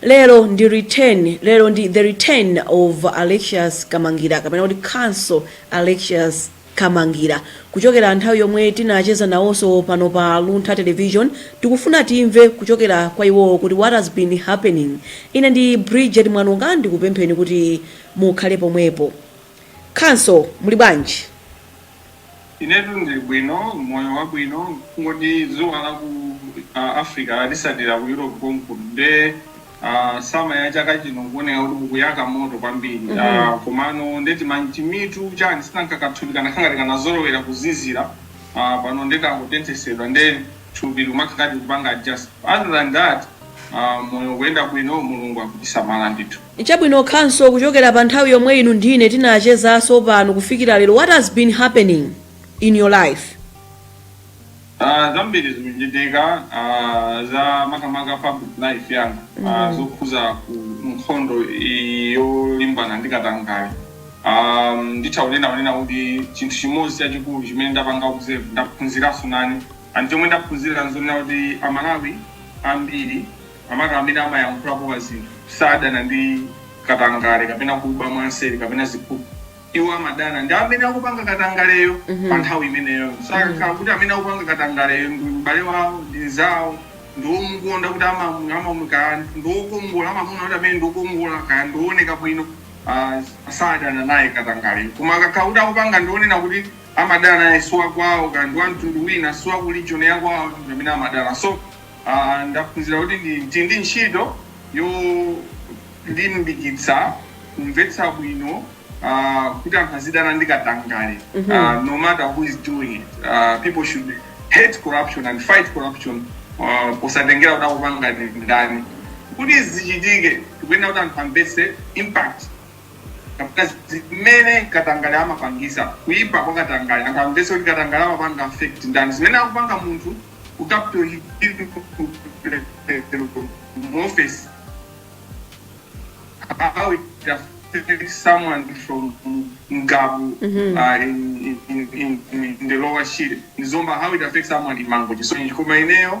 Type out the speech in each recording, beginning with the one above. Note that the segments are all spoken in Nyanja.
lero ndi return lero ndi the return of alexius kamangira kapena kuti counsel alexius kamangira kuchokera nthawi yomwe tinacheza nawonso pano pa luntha television tikufuna timve kuchokera kwa iwowo kuti what has been happening ine ndi bridget mwanonga ndikupempheni kuti mukhale pomwepo counsel muli bwanji Inetu ndili bwino, moyo wabwino, kungoti dzuwa la ku Africa latisatira ku Europe konkuno nde uh, sama ya chaka chino kuoneka kuti kukuyaka moto kwambiri mm -hmm. uh, komano nde ti munthu chani si nanga kathupi kanakhala ngati kanazolowera kuzizira uh, pano nde kangotenthesedwa nde thupi likumakhala ngati kupanga adjust other than that uh, moyo kuyenda bwino mulungu akutisamala ndithu Chabwino counsel kuchokera pa nthawi yomwe inu ndi ine tinachezaso pano kufikira lero what has been happening in your life? Aaa zambiri zikuchitika aaa za makamaka public life yanga aaa zokhuza ku nkhondo iyi yolimbana ndi katangale aaa nditha kunena kunena kuti chinthu chimodzi chachikulu chimene ndapanga observe ndaphunziraso nane and chomwe ndaphunzira nzonena kuti amalawi ambiri makamaka amene amayankhula pa zinthu, sadana ndi katangale kapena kuba mwanseri kapena ziphuphu. Iwo amadana ndi amene akupanga katangaleyo pa nthawi imeneyoyo. So kakhala kuti amene akupanga katangaleyo ndi m'bale wawo, ndi mnzawo, ndi womukonda kuti amamu- amamu- kaya ndi wokongola, amamuona kuti amene ndi wokongola, kaya ndi wooneka bwino, ah, sadana naye katangaleyo. Koma akakhala kuti akupanga ndi wonena kuti amadana naye si wakwawo, kaya ndi wa mtundu wina, si wa ku region yakwawo, ndi amene amadana. So Aaa ndaphunzira kuti tili ndi ntchito yolimbikitsa kumvetsa bwino aah kuti anthu azidana ndi katangale aah no matter who is doing it aah people should hate corruption and fight corruption aah posatengera kuti akupanga ndi ndani. Kuti izi zichitike tikuyenera kuti anthu amvetse impact. kapena zimene katangale amapangisa kuipa kwa katangale anthu amvese kuti katangale amapanga affect ndani zimene akupanga munthu ku capital hill mu office how it affects someone from Ngabu uh, in, in, in, in, in the lower shire. Ni Zomba, how it affects someone in Mangochi. So ndikumamenyera,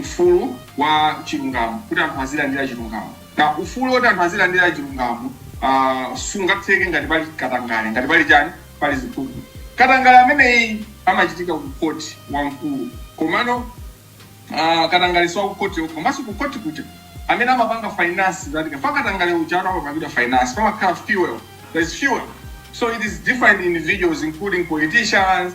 ufulu wa chilungamo, kuti anthu azilandira chilungamo. Now, ufulu woti anthu azilandira chilungamo uh, sungatheke ngati pali katangale, ngati pali chani, pali ziphuphu. Katangale ameneyi amachitika ku khoti wamkulu, komano uh, katangale si wa ku khoti komanso ku khoti kuja amene amapanga finance that katangale uja atu amapangidwa finance, pamakhala fuel, there is fuel. So it is different individuals including politicians,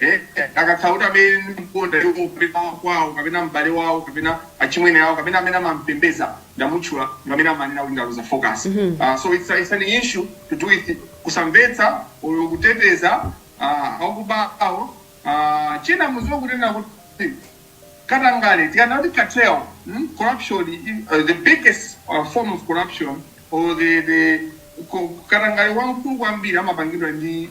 Eee akakhala kuti amene amamkonda iwo kapena wakwao kapena m'bale wao kapena achimwene awo kapena amene amampembeza ndamutchula ndi amene amanena kuti ndaluza focus aah so it's a it's an issue to do with kusamvetsa or kuteteza aah akubawo aah china muziwe kunena kuti katangale tikanena kuti cartel mmh corruption ii the biggest form of corruption or the the katangale wamkulu kwambiri amapangidwa ndi.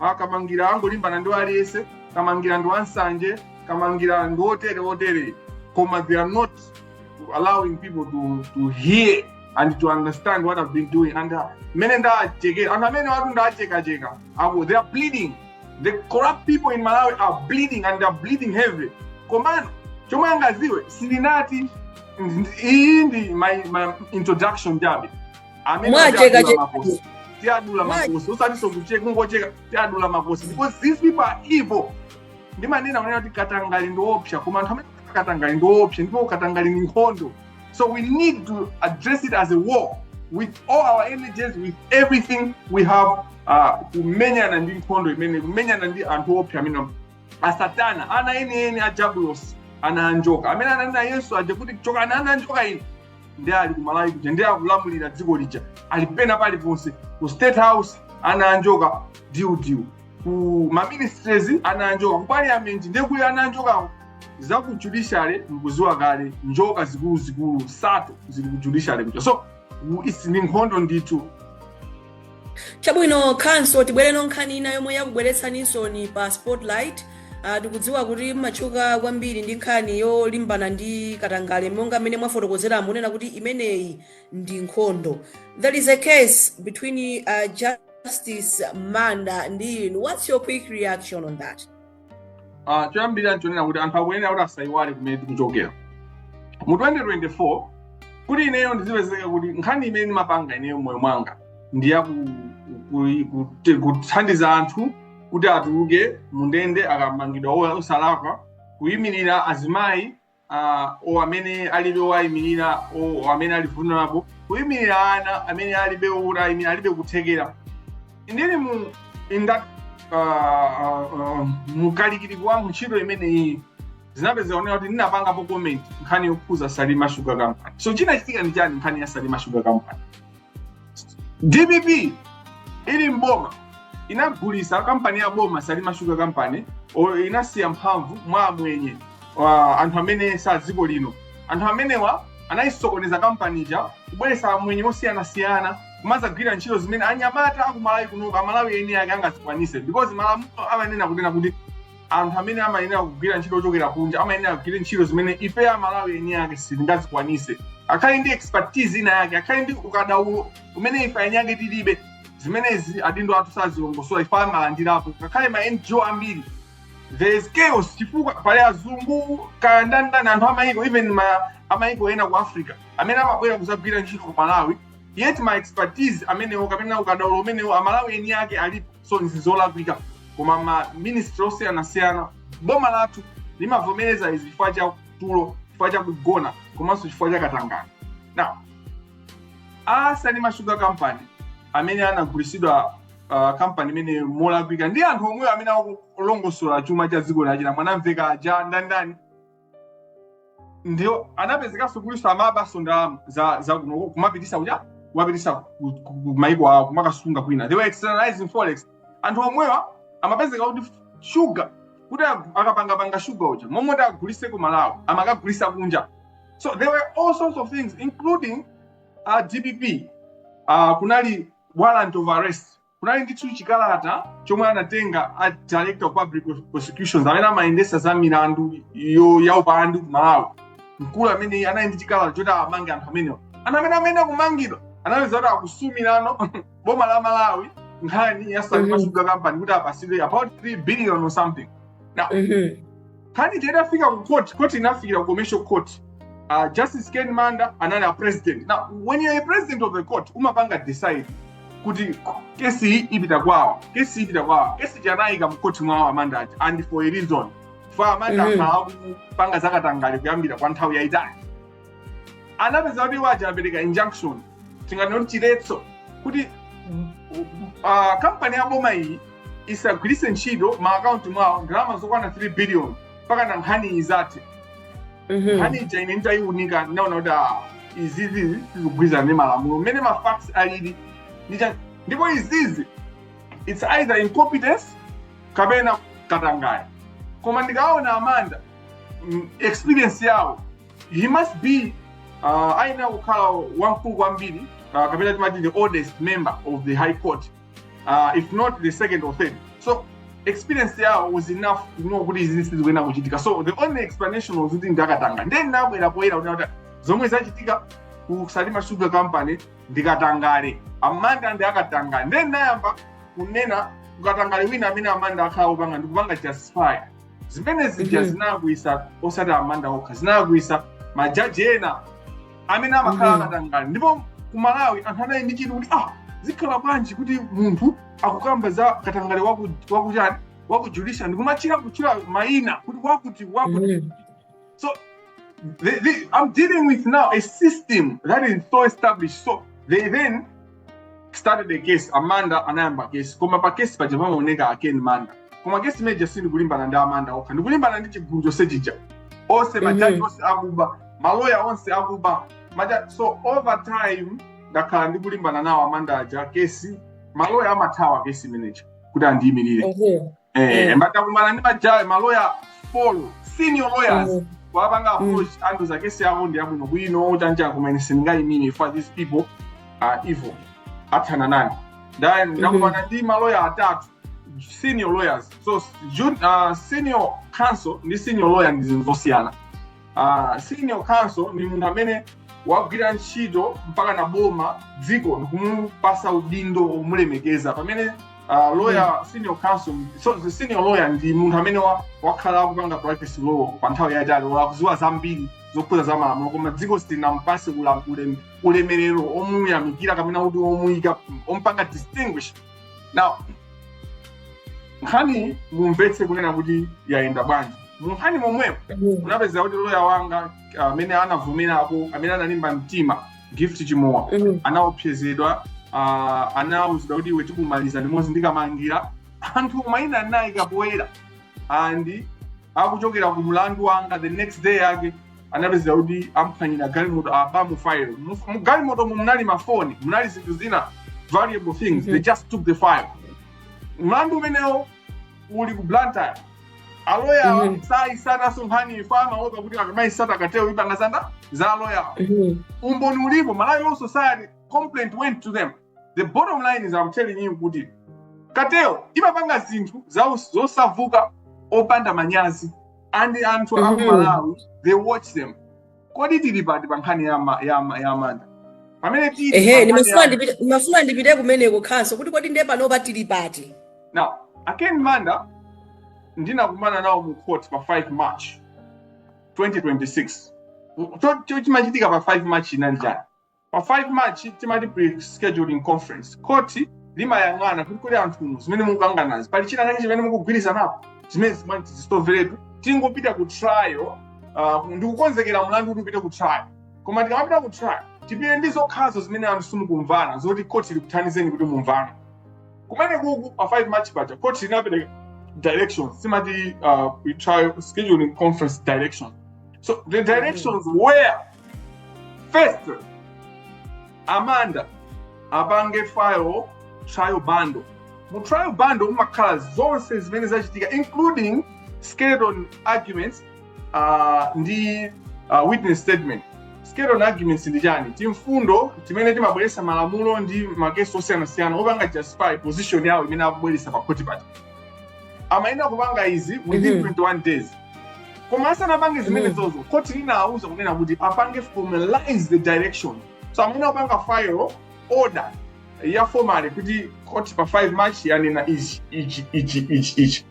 ah, kamangira angolimbana ndi aliyense kamangira ndi wansanje kamangira ndi otere otere koma they are not allowing people to, to hear and to understand what i've been doing and uh, mmene ndachekera anthu amenewatu ndachekacheka they are bleeding the corrupt people in malawi are bleeding and they are bleeding heavy komano chomwe angaziwe sindinati iyi ndi my, my introduction chabe amene Mwacheka adula cheka. makosi tiadula Mwa- makosi osatinso kucheka kungocheka tiadula makosi because these people are evil ndimanena kunena kuti katangale ndiopsa koma anthu amene akupanga katangale ndiopsa ndipo katangale ndi nkhondo so we need to address it as a war with all our energies with everything we have uh, kumenyana ndi nkhondo imeneyi kumenyana ndi anthu opsa amene a satana ana enieni a jabulosi ana anjoka amene ananena yesu aja kuti chokani ana anjoka ine ndiye ali ku malawi kuja ndiye akulamulira dziko lija ali pena paliponse ku state house ana anjoka diudiu ku maministries ana anjoka ku parliament ndiye kuli ana anjoka za ku judiciary mkuziwa kale njoka zikuluzikulu sato zili ku judiciary kuja so iyi ndi nkhondo ndithu chabwino khanso tibwereno nkhani ina yomwe yakubweretsaninso pa spotlight uh, tikudziwa kuti mumatchuka kwambiri ndi nkhani yolimbana ndi katangale monga mmene mwafotokozera kunena kuti imeneyi ndi nkhondo there is a case between uh, justice manda ndi inu what's your quick reaction on that Ah, choyambirira nchonena kuti anthu akuyenera kuti asayiwale kumene tikuchokera mu 2024 kuti ineyo ndizipezeka kuti nkhani imene ndimapanga ineyo moyo mwanga ndi ya ku- ku- ku- kuthandiza anthu kuti atuluke mundende akamangidwa ola- osalakwa kuyimirira azimayi uh, o amene alibe owayimirira o o amene ali vulnerable kuyimirira ana amene alibe owayimirira alibe kuthekera ndili mu in that uh, uh, uh, mukalikiliki wangu ntchito imeneyi zinapezeka kunena kuti ndinapangapo comment nkhani yokhuza salima sugar company so chinachitika ndi chani nkhani ya salima sugar company dpp ili mboma inagulisa kampani ya boma salima sugar company o- inasiya mphamvu mwa amwenye wa anthu amene sa dziko lino anthu amenewa anayisokoneza kampani ija kubweresa amwenye osiyanasiyana kumadzagwira ntchito zimene anyamata akumalawi kunoka amalawi eni ake angazikwanise because malamulo amanena kunena kuti anthu amene amayenera kugwira ntchito ochokera kunja amayenera kugwira ntchito zimene ife amalawi eni ake sitingazikwanise akhale ndi expertise ina yake akhale ndi ukadaulo umene ife eni ake tilibe zimenezi adindo athu sazilongosola ife amalandirapo ngakhale ma ngo ambiri there is chaos chifukwa pali azungu kaya ndandani anthu amayiko even amayiko ena ku africa amene amabwera kuzagwira ntchito ku malawi yet ma expertise amenewo kapena ukadaulo umenewo amalawi eni ake alipo so nzizolakwika koma ma ministry osiyanasiyana boma lathu limavomereza izi chifukwa cha tulo chifukwa cha kugona komanso chifukwa cha katangale now a salima sugar company amene anagulisidwa uh, kampani imene molakwika ndi anthu omwewo amene akulongosola chuma cha dziko lachina mwanamveka aja ndandani ndio anapezekanso kutinso amabaso ndalama za za kuno kumapitisa kuja kumapitisa ku- ku- ku maiko awo kumakasunga kwina they were externalizing forex anthu omwewa amapezeka kuti shuga kuti ag- akapangapanga shuga uja momwe kuti agulise ku malawi amakagulisa kunja so there were all sorts of things including uh, dpp uh, kunali warrant of arrest kunali ndithu chikalata chomwe anatenga a director of public prosecutions amene amayendesa za milandu yo ya upandu ku malawi mkulu ameneyi anali ndi chikalata choti amange anthu amenewa ana amene amene kumangidwa anapeza kuti akusumilano boma la malawi nkhani ya Mhm. salima sugar company kuti apasidwe about 3 billion or something Mhm. nkhani ija itafika ku court court inafikira ku commercial court uh, justice ken manda anali a president now when you're a president of the court umapanga decide kuti kesi iyi ipita kwawa kesi iyi ipita kwawa kesi ija anayika mu court mwawo amanda aja and for a reason chifukwa amanda Mhm. akhala akupanga zakatangale kuyambira kwa nthawi yayitali anapeza kuti iwo aja apereka injunction tinganena kuti chiletso kuti ah, kampani ya boma iyi isagwiritse ntchito ma akaunti mwawo ndalama zokwana 3 billion mpakana nkhani izathe Mhm. nkhani ija ine nditayiunika ndinaona kuti ah, izizi sizikugwirizana ndi malamulo mmene ma facts alili ndicha- ndipo izizi its either incompetence kapena katangale koma ndikaona amanda mm, experience yawo he must be uh, ayenera kukhala wamkulu kwambiri uh, kapena timati the oldest member of the high court uh, if not the second or third so experience yawo was enough to know kuti izi sizikuyenera kuchitika so the only explanation was kuti ndi akatangale ndiye ndinabwera poyera kuti kuti zomwe zachitika ku salima sugar company ndi katangale a manda ndi akatangale ndiye ndinayamba kunena kukatangale wina amene a manda akhala akupanga ndikupanga justify zimene zija Mhm. zinakwiyisa osati a manda okha zinakwiyisa majaji ena amene amakhala Mhm. akatangale ndipo ku malawi anthu anali ndi chidwi kuti ah zikhala bwanji kuti munthu akukamba za katangale waku- wakuchani waku judiciary ndikumachita kutchula mayina kuti wakuti wakuti Mhm. So they, they, I'm dealing with now a system that is so established. So they then started the case a manda anayamba case koma pa case paja pamaoneka a ken manda koma case imeneja sindikulimbana ndi a manda okha ndikulimbana ndi chigulu chonse chija onse majaji onse akuba maloya onse akuba aja so over time ndakhala ndikulimbana nawo a manda aja kesi maloya amathawa kesi imeneja kuti andiyimirire eh mm. nditakumana ndi majawe maloya folo senior lawyers mm. kuwapanga mm. approach mm. andiuza kesi yawo ndi yabwino bwino chancha koma ine sindingayimire for these people are evil athana nane then ndakumana mm-hmm. ndi maloya atatu senior lawyers so jun, uh, senior counsel ndi senior lawyer ndi zinthu zosiyana uh, senior counsel ndi munthu amene wagwira ntchito mpakana boma dziko ndikumupasa udindo womulemekeza pamene uh, lawyer mm. senior counsel so the senior lawyer ndi munthu amene wa, wakhala akupanga practice law pa nthawi yaitali olo akuziwa zambiri zokhudza za malamulo koma dziko silinampase ulemerero omuyamikira kapena kuti omuyika ompanga distinguish now nkhani mumvetse kunena kuti yayenda bwanji munkhani momwepo unapezeka kuti loya wanga amene anavomerapo amene analimba mtima gift chimowa Mm. anaopsezedwa uh, anauzidwa kuti iwe tikumaliza limodzi ndi kamangila anthu maina anayika poyera and akuchokera ku mlandu wanga the next day yake anapezeka kuti amphwanyira galimoto abamo file Mu- mu galimoto mu munali mafoni munali zinthu zina valuable things they just took the file mlandu umenewo uli ku blantyre aloyawa Mhm. saisataso nkhani chifukwa amaopa kuti akamaisata cartel ipangasanda za aloyawa Mhm. umboni ulipo malawi law society complaint went to them the bottom line is I'm telling you kuti cartel imapanga zinthu za- zosavuta opanda manyazi and anthu Mhm. aku malawi they watch them kodi tili pati pa nkhani ya ma- ya ma- ya manda pamene tili ehe pa nkhani ndimafuna ya- ndipite- ndimafuna ndipite kumeneko khanso kuti kodi ndiye panopa tili pati now a ken manda ndinakumana nawo mu court pa 5 march 2026 Cho- cho- chimachitika pa 5 march inali chani pa 5 march timati pre-scheduling conference khoti limayang'ana kuti kodi anthunu zimene mukukanganazi pali china chake chimene mukugwirizanapo zimene zimati tizisoveretu tingopita ku trial uh, ndikukonzekera mlandu kuti upite ku trial koma tikamapita ku trial tipite ndi zokhazo zimene anthu simukumvana zoti khoti likuthandizeni kuti mumvane kumene kuku pa 5 march paja khoti linapereka directions timati uh, pre-trial scheduling conference directions so the directions were first amanda apange file trial bundle mu trial bundle mumakhala zonse zimene zachitika including skeleton arguments uh, ndi uh, witness statement skeleton arguments ndi chani timfundo timene timabweretsa malamulo ndi makesi osiyanasiyana opanga justify position yawo imene akubweretsa pa khoti paja amayenera kupanga izi within Mhm. 21 days koma asanapange zimenezozo khoti linawauza kunena kuti apange formalize the direction so amayenera kupanga file order ya formally kuti khoti pa 5 march yanena ichi ichi ichi ichi ichi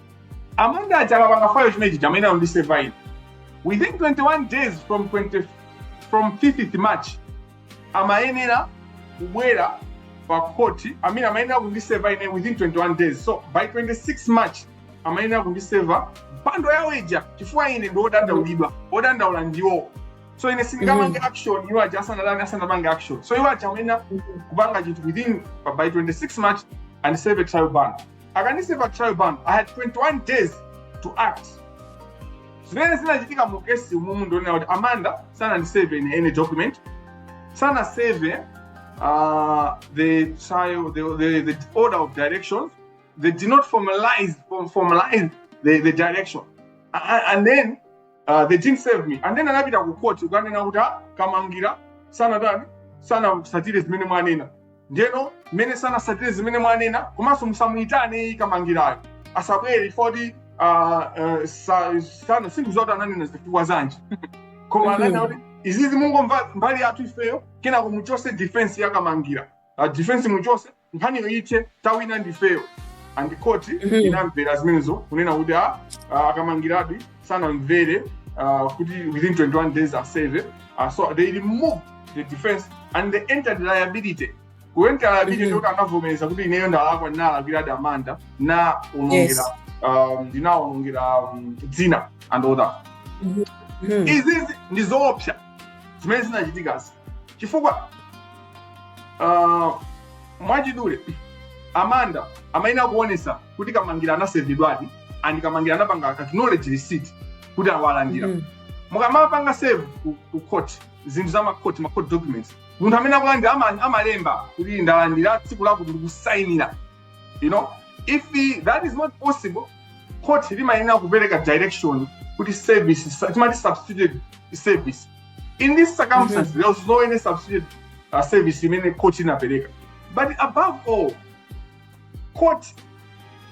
amanda aja akapanga file chimenechi amayenera kundiseva ine within 21 days from 20 from 5th march amayenera kubwera pa court i mean amayenera kundiseva ine within 21 days so by 26 march amayenera kundiseva bundle yawo ija chifukwa ine ndi odandaulidwa odandaula ndiwo so ine sindingapange action iwo aja asanatani asanapange action so iwo aja amayenera kupanga chinthu within by 26 march and serve a trial bundle akandiseva trial bundle i had 21 days to act zimene zinachitika mu kesi umumu ndonena kuti amanda sanandiseve ine any document sanaseve uh, the trial the, the, the order of directions they did not formalize formalize the, the direction and, and then uh, they didn't serve me and then anapita ku court kukanena kuti "Ah, kamangira sanatani sanasatire zimene mwanena ndeno mmene sanasatire zimene mwanena komanso musamuyitane kamangirayo asabwere poti sindidziwa kuti ananena zifukwa zanji koma ananena kuti izizi mungomva mbali yathu ifeyo kenako muchose defense yakamangira uh, defense muchose nkhaniyo ithe tawina ndifeyo and the court Mhm. inamvera zimenezo kunena kuti a a- akamangiradi sanamvere ah, kuti within 21 days aseve Ah, so they removed the defense and they entered liability kuenter liability Mhm. ndikuti anavomereza kuti ineyo ndalakwa ndinalakwiradi amanda nawaonongera Yes. um, ndinaonongera um, dzina and all that Mhm. izizi ndi zoopsa zimene zinachitikazi chifukwa uh, mwachidule Amanda amayenera kuonesa kuti Kamangira anaservedwadi and Kamangira anapanga acknowledge receipt kuti awalandira mm. mukamapanga serve ku, ku court zinthu za macourt macourt documents munthu amene akulandira ama- amalemba kuti ndalandira tsiku lakuti ndikusainira you know if he, that is not possible court limayenera kupereka direction kuti service sa- timati substituted service in this circumstance there was no any substituted uh, service imene court inapereka but above all court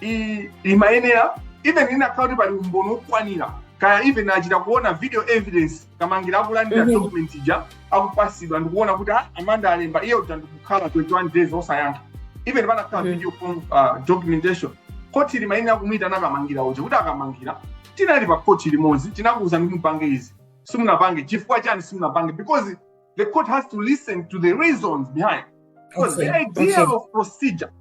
i- imayenera even inakhala kuti pali umboni wokwanira kaya even achita kuona video evidence Kamangira akulandira Mhm. document ija akupasidwa ndikuona kuti ah, Amanda alemba iye uja ndikukhala 21 days osayankha even panakhala Mhm. video form ah, documentation koti limayenera kumuyitana Kamangira uja kuti a Kamangira tinali pa koti limodzi tinakuwuza kuti mupange izi simunapange chifukwa chani simunapange because the court has to listen to the reasons behind. Because okay. the idea okay. of procedure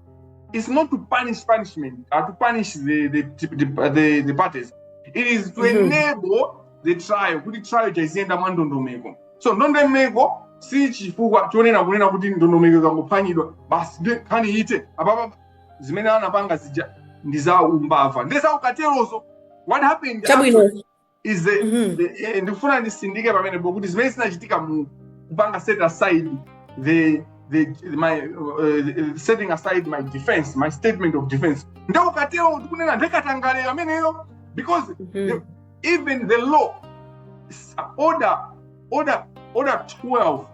is not to punish punishment or uh, to punish the the, the, uh, the, the parties. It is to mm-hmm. enable the trial. Kuti trial iziyenda mwa ndondomeko. So ndondomeko si chifukwa chonena kunena kuti ndondomeko ikangophwanyidwa basi nkhani ite apapa zimene anapanga zija ndi za umbava ndi za ukaterozo what happened chabwino is Mhm. eh, eh, ndikufuna ndisindike pamenepo kuti zimene zinachitika mu kupanga set aside the the my uh, setting aside my defense my statement of defense nde ukatero ndikunena ndiye katangaleyo ameneyo because Mhm. even the law s- order order order 12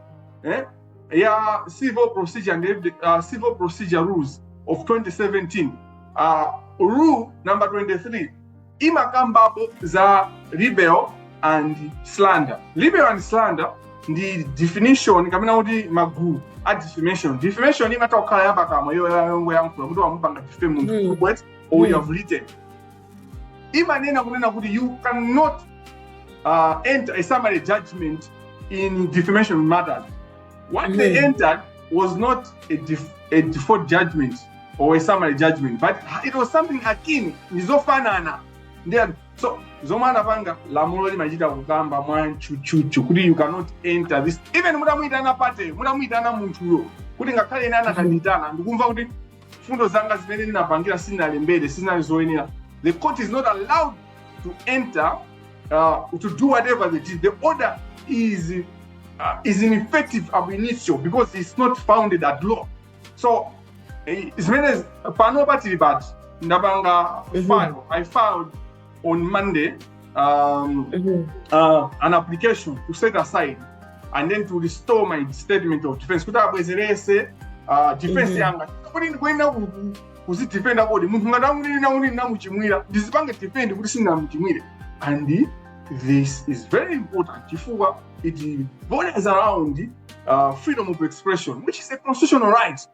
eh, ya civil procedure and evid- uh, civil procedure rules of 2017 uh, rule number 23 imakambapo za libel and slander libel and slander ndi definition kapena kuti magulu a defamation defamation imatha kukhala yapakamwa iyo yongoyankhula kuti wamupanga defame munthu Mm. kubwet or Mm. you have written imanena kunena kuti you cannot uh, enter a summary judgment in defamation matters What they hmm. entered was not a, def- a default judgment or a summary judgment, but it was something akin, ndizofanana. Then, so zomwe anapanga lamulo limachita kukamba mwatchutchutchu kuti you cannot enter this even mutamuyitana party mutamuyitana munthuyo kuti ngakhale ine anakandiyitana ndikumva kuti mfundo zanga zimene ndinapangira sindinalembere sizinali zoyenera the court is not allowed to enter uh, to do whatever they did the order is uh, is ineffective ab initio because it's not founded at law so eh, zimene pano patili pati ndapanga file i filed on Monday um, mm-hmm. uh, an application to set aside and then to restore my statement of defense kuti abwezerese uh, defense mm-hmm. yanga kuti ndikuenda kuzidefenda koti munthu ngati akunena kuti namuchimwira ndizipange defend kuti sindinamuchimwire and this is very important chifukwa it borders around uh, freedom of expression which is a constitutional right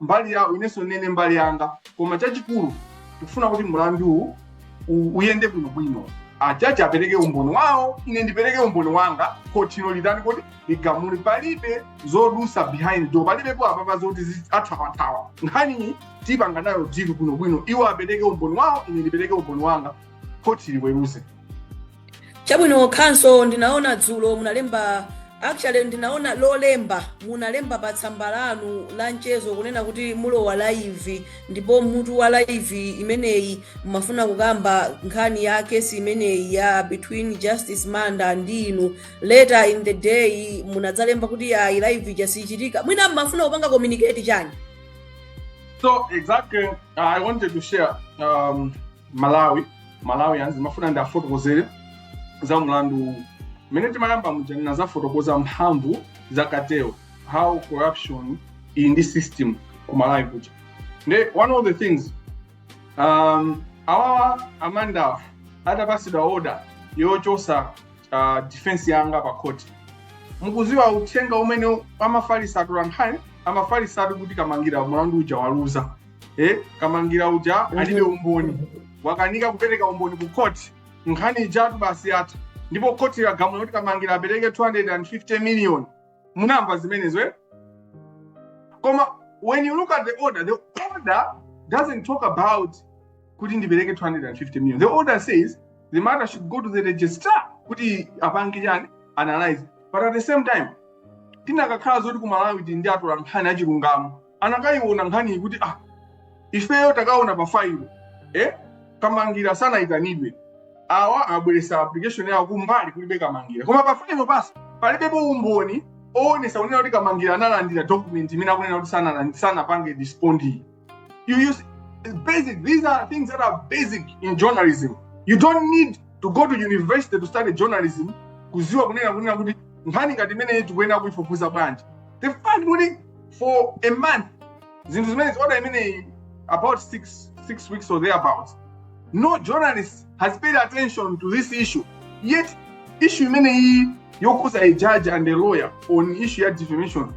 mbali yawo inenso nene mbali yanga koma chachikulu tikufuna kuti mlanduwu u- uyende bwinobwino ajaji apereke umboni wawo ine ndipereke umboni wanga khotilo litani kuti ligamule palibe zodusa behind door palibepo apapa zoti zi- athawathawa nkhaniyi tipanga nayo dilu bwinobwino iwo apereke umboni wawo ine ndipereke umboni wanga khoti liweruze chabwino counsel ndinaona dzulo munalemba actually ndinaona lolemba munalemba pa tsamba lanu la mchezo kunena kuti mulowa live ndipo mutu wa live imeneyi mumafuna kukamba nkhani ya kesi imeneyi ya between justice manda ndi inu later in the day munadzalemba kuti ayi live ija sichitika mwina mumafuna kupanga communicate chani So exactly, uh, I wanted to share um, Malawi Malawians ndimafuna ndiafotokozere za mlandu uwu mmene timayamba muja ndinazafotokoza mphamvu za cartel how corruption ili ndi system ku malawi kuja nde one of the things um, awawa a Mandawa atapasidwa order yochosa uh, defense yanga pa court mukuziwa uthenga umene amafalisa atolankhani amafalisa ati kuti kamangira mlandu uja waluza eh, kamangira uja alibe umboni wakanika kupereka umboni ku khoti nkhani ijatu basi yatha ndipo khoti lagamula kuti kamangira apereke 250 million munamva zimenezo eh? koma when you look at the order the order doesn't talk about kuti ndipereke 250 million the order says the matter should go to the registrar kuti apange chani analyze but at the same time tinakakhala zoti ku malawi tili ndi atolankhani achilungamo anakayiona nkhaniyi kuti ah ifeyo takaona pa file eh kamangira sanayitanidwe awa abweresa application yawo kumbali kulibe kamangira koma pa file pasi palibepo umboni owonesa kunena kuti kamangira analandira document imene akunena kuti sanalandi- sanapange respond you see it's basic these are things that are basic in journalism you don't need to go to university to study journalism kuziwa kunena kunena kuti nkhani ngati imeneyi tikuyenera kuyifufuza bwanji the fact kuti for a month zinthu zimenezi order imeneyi about six six weeks or thereabouts no journalist has paid attention to this issue yet issue imeneyi yokuza a judge and a lawyer on issue ya defamation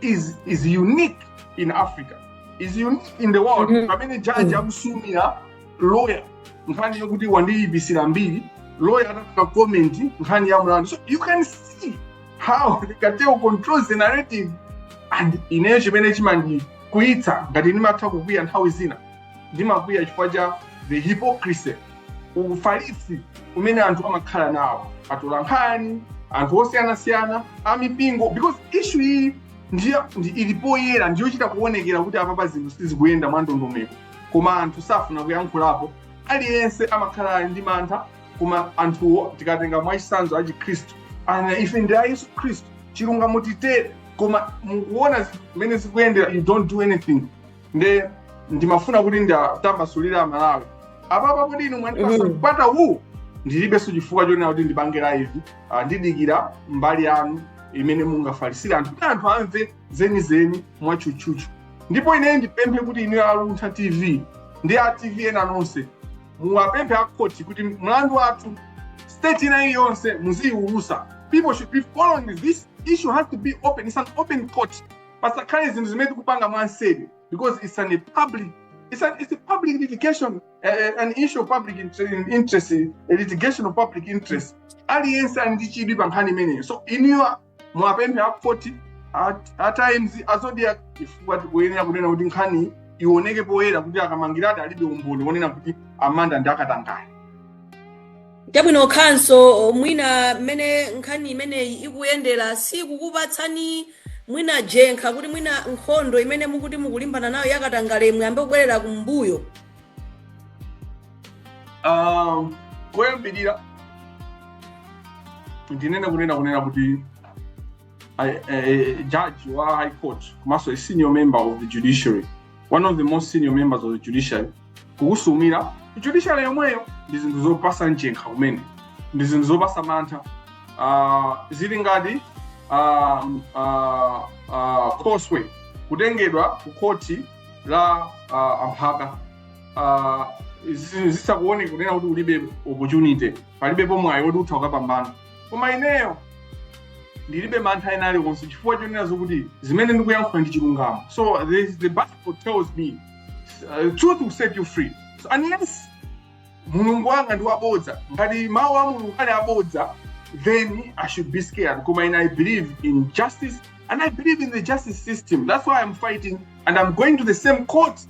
is is unique in africa is unique in the world Mhm. pamene judge Mhm. akusumira lawyer nkhani yokuti wandiyipitsira mbiri lawyer atafuna comment nkhani ya mlandu so you can see how the cartel controls the narrative and ineyo chimene chimandikwiyitsa ngati ndimatha kukwiya nthawi zina ndimakwiya chifukwa cha the hypocrisy ufalisi umene anthu amakhala nawo atolankhani anthu osiyanasiyana amipingo because issue iyi ili poyera ndiyochita kuonekera kuti apapa zinthu sizikuyenda mwandondomeko koma anthu safuna kuyankhulapo aliyense amakhala ali ndi mantha koma anthuwo tikatenga mwachisanzo achikhristu ana ife ndi a yesu khristu chilungamo titere koma mukuona zimene zikuyendera you don't do anything nde ndimafuna kuti nditambasulire amalawi apapa kuti inu mwandipasa Mhm. mpata uwu ndilibenso chifukwa chonena kuti ndipange live Ah, ndidikira mbali yanu imene mungafalisire anthu kuti anthu amve zenizeni mwatchutchutchu ndipo ineyo ndipemphe kuti inu aluntha tv ndi a tv ena nonse muwapemphe akhoti kuti mlandu wathu stage ina iliyonse muziyiwulusa people should be following this issue has to be open it's an open court pasakhale zinthu zimene tikupanga mwanseri because it's an a public it's, an, it's a public litigation uh, an issue of public interest, interest a litigation of public interest aliyense ali ndi chidwi pa nkhani imeneyo so inuyo muwapemphe a khoti a- a times a zodiak chifukwa tikuyenera kunena kuti nkhani ioneke poyera kuti a kamangiladi alibe umboni wonena kuti a manda ndi akatangale chabwino counsel mwina mmene nkhani imeneyi ikuyendera sikukupatsani mwina jenkha kuti mwina nkhondo imene mukuti mukulimbana nayo yakatangale muyambe kubwerera kumbuyo um, koyambirira ndinene kunena kunena kuti a, a judge wa high court komanso a senior member of the judiciary one of the most senior members of the judiciary kukusumira judiciary yomweyo ndi zinthu zopasa mchenkha kumene ndi zinthu zopasa mantha uh, zili ngati uh, uh, uh, khoswe kutengedwa ku khoti la uh, amphaka uh, zisakuoneka kunena kuti ulibe opportunity palibepo mwayi woti utha ukapambana koma ineyo ndilibe mantha ena aliwonse chifukwa chonena zokuti zimene ndikuyankhula ndi chilungamo so the, the bible tells me uh, truth will set you free so unless mulungu wanga ndi wabodza ngati mawu a mulungu ali abodza then i should be scared koma ine i believe in justice and i believe in the justice system that's why i'm fighting and i'm going to the same court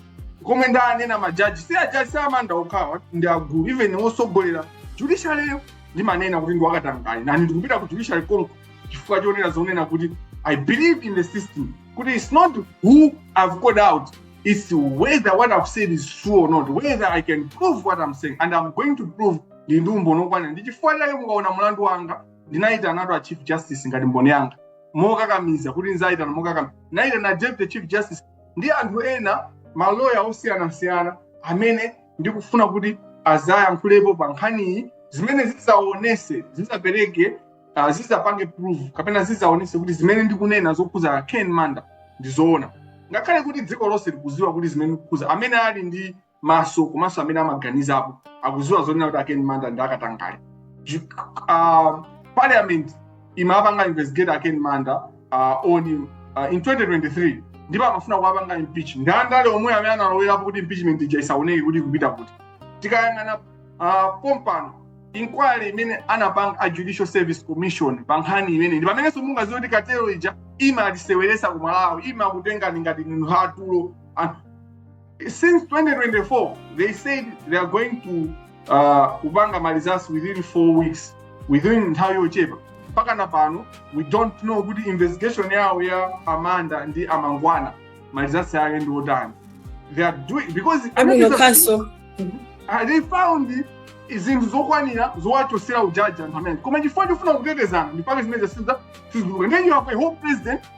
komwe ndanena majaji si ajaji si a manda okhawa ndi agulu even wosogolera judiciaryyo ndimanena kuti ndiwakatangale nani ndikupita ku judiciary konko chifukwa chonena zonena kuti i believe in the system kuti it's not who i've called out it's whether what i've said is true or not whether i can prove what i'm saying and i'm going to prove ndili ndi umboni okwanira ndi chifukwa chake mukaona mulandu wanga ndinayitanatu a chief justice ngati mboni yanga mokakamiza kuti ndizayitana mokakamiza ndinayitana deputy chief justice ndi anthu ena maloya osiyanasiyana amene ndikufuna kuti azayankhulepo pa nkhaniyi zimene zizaonese zizapereke uh, zizapange proof kapena zizaonese kuti zimene ndikunena zokhuza ken manda ndizoona ngakhale kuti dziko lonse likuziwa kuti zimene ndikukhuza amene ali ndi maso komanso amene amaganizapo akuziwa zonena kuti a ken manda ndi akatangale uh, parliament imapanga investigate a ken manda uh, on uh, in 2023 ndipo amafuna kuwapanga impeach ndi andale omwe amene analowerapo kuti impeachment ija isaoneke kuti ikupita kuti tikayang'ana uh, pompano inquiry imene anapanga a judicial service commission pa nkhani imene ndi pamenenso mungaziwe kuti cartel ija imatiseweresa ku malawi imakutengani ngati ndinu atulo anthu since 2024 they said they are going to uh, kupanga ma results within four weeks within nthawi yochepa mpaka na pano we don't know kuti investigation yawo ya a manda ndi a mangwana ma results ake ndi otani they are doing because uh, they found zinthu zokwanira zowachosera ujaji anthu amene koma chifukwa chofuna kutetezana ndipake zimene sizituluka ndiye you have a whole president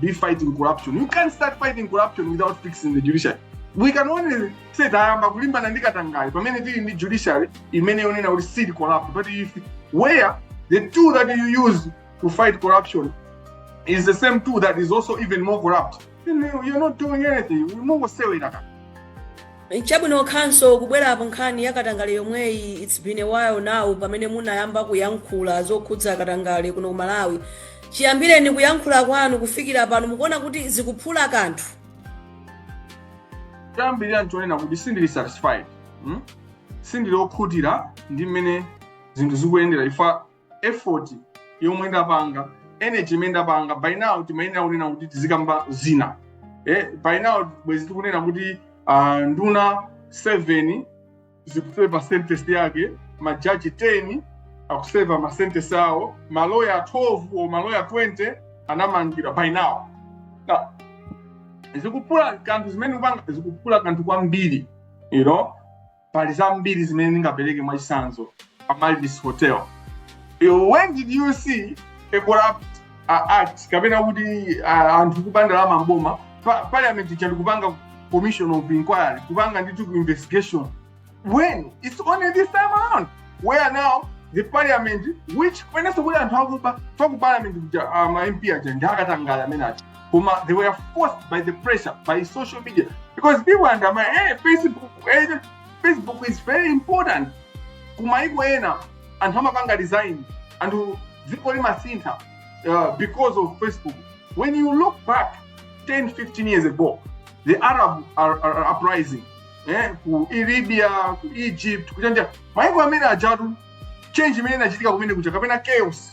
be fighting corruption. You can't start fighting corruption without fixing the judiciary. We can only say tayamba kulimbana ndi katangale pamene tili ndi judiciary imene yonena kuti sili corrupt. But if where the tool that you use to fight corruption is the same tool that is also even more corrupt, then you're not doing anything. Mungosewera kaka. Chabwino counsel kubwerapo nkhani ya katangale yomweyi it's been a while now pamene munayamba kuyankhula zokhudza katangale kuno ku Malawi. Chiyambireni kuyankhula kwanu kufikira pano mukuona kuti zikuphula kanthu? Choyambirira nchonena kuti sindili satisfied. Hmm? Sindili okhutira ndi mmene zinthu zikuyendera ifa effort yomwe ndapanga energy imene ndapanga by now timayenera kunena kuti tizikamba zina eh, by now bwezi tikunena kuti uh, nduna 7 zikuseva sentence yake majaji 10 akuseva masentence awo maloya 12 or maloya 20 anamangidwa by now now zikuphula kanthu zimene kupanga zikuphula kanthu kwambiri you know pali zambiri zimene ndingapereke mwachitsanzo amaryllis hotel You- when did you see a corrupt uh, act kapena kuti uh, anthu kuba ndalama mboma pa, parliament ija ndikupanga commission of inquiry kupanga ndithu ku investigation when it's only this time around where now the parliament which kwenenso kuti anthu akuba fa ku parliament kuja uh, ma mp aja ndi akatangale amene aja koma they were forced by the pressure by social media because people undermine facebook hey, facebook is very important kumaiko ena anthu amapanga resign and dziko limasintha uh, because of facebook when you look back 10 15 years ago the arab are, are, are uprising eh, ku libya ku egypt kuchanja maiko amene ajatu change imene inachitika kumene kuja kapena chaos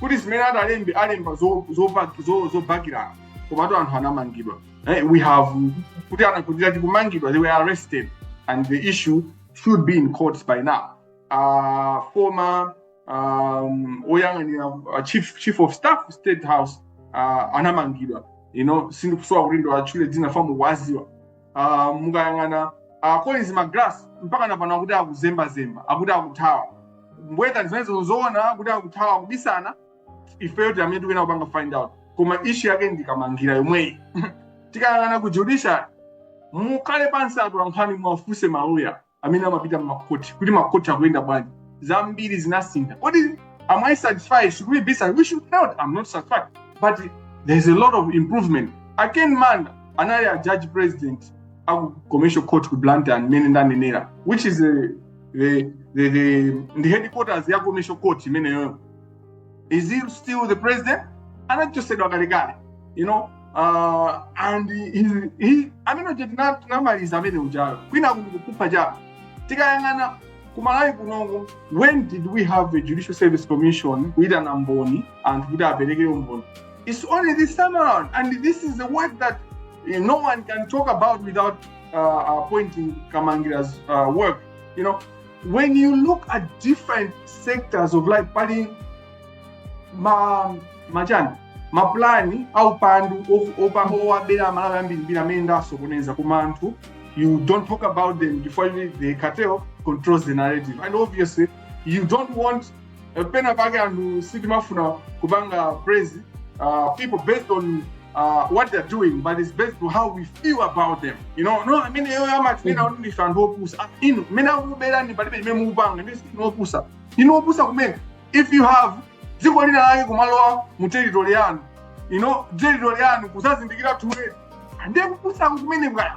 kuti zimene atalembe alemba zo- zopa- zo- zobakirana komatu anthu anamangidwa Eh, we have kuti anakhutira tikumangidwa they were arrested and the issue should be in courts by now uh, former um, oyang'anira uh, chief, chief of staff state house uh, anamangidwa you know sindikusowa kuti ndiwatchule dzina chifukwa mukuwaziwa uh, mukayang'ana uh, Collins Magalasi mpaka napano akuti akuzembazemba akuti akuthawa mbweta zimenezo nzoona kuti akuthawa kubisana ifeyo ndi amene tikuyena kupanga find out koma issue yake ndi Kamangila yomweyi tikayang'ana ku judiciary mukhale pansi atolankhani mwafunse maloya amene amapita mmakoti kuti makoti akuyenda bwanji zambiri zinasintha kodi am i satisfied should we be satisfied? we should not i'm not satisfied but there's a lot of improvement a Ken Manda anali a judge president aku commercial court ku blantyre mmene ndanenera which is a, the, the, the, ndi headquarters ya commercial court imeneyoyo is he still the president anachosedwa kalekale you know uh, and he, he, amene uja tina- tinamaliza amene ujayo kwinaku tikupha chawo tikayang'ana ku Malawi kunoko when did we have a judicial service commission kuyitana mboni anthu kuti apereke umboni it's only this time around and this is the work that uh, no one can talk about without uh, uh, pointing Kamangila's uh, work you know when you look at different sectors of life pali ma machani mapulani aupandu of- opa- owabera amalawi ambirimbiri amene ndasokoneza koma anthu you don't talk about them before you the cartel controls the narrative and obviously you don't want Eh, pena pake anthu sitimafuna kupanga praise uh, people based on uh, what they're doing but it's based on how we feel about them you know no ameneyoyo amatinena kuti ndife anthu opusa Ah, inu mmene akukuberani palibe chimene mukupanga ndi sinu opusa inu opusa kumene if you have dziko lina lake kumalowa mu territory yanu you know territory yanu kuzazindikira too late ndiye kupusa kumene bwana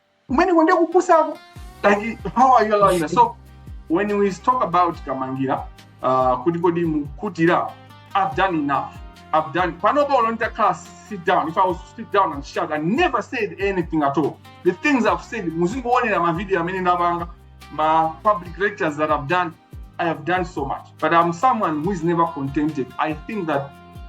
kumeneko ndiye kupusako like how are you allowing us so when we talk about kamangira uh, kuti kodi mukutira i've done enough i've done panopa ulo nditakhala sit down if i was to sit down and shout i never said anything at all the things i've said muzingoonera mavideo amene ndapanga ma public lectures that i've done i have done so much but i'm someone who is never contented i think that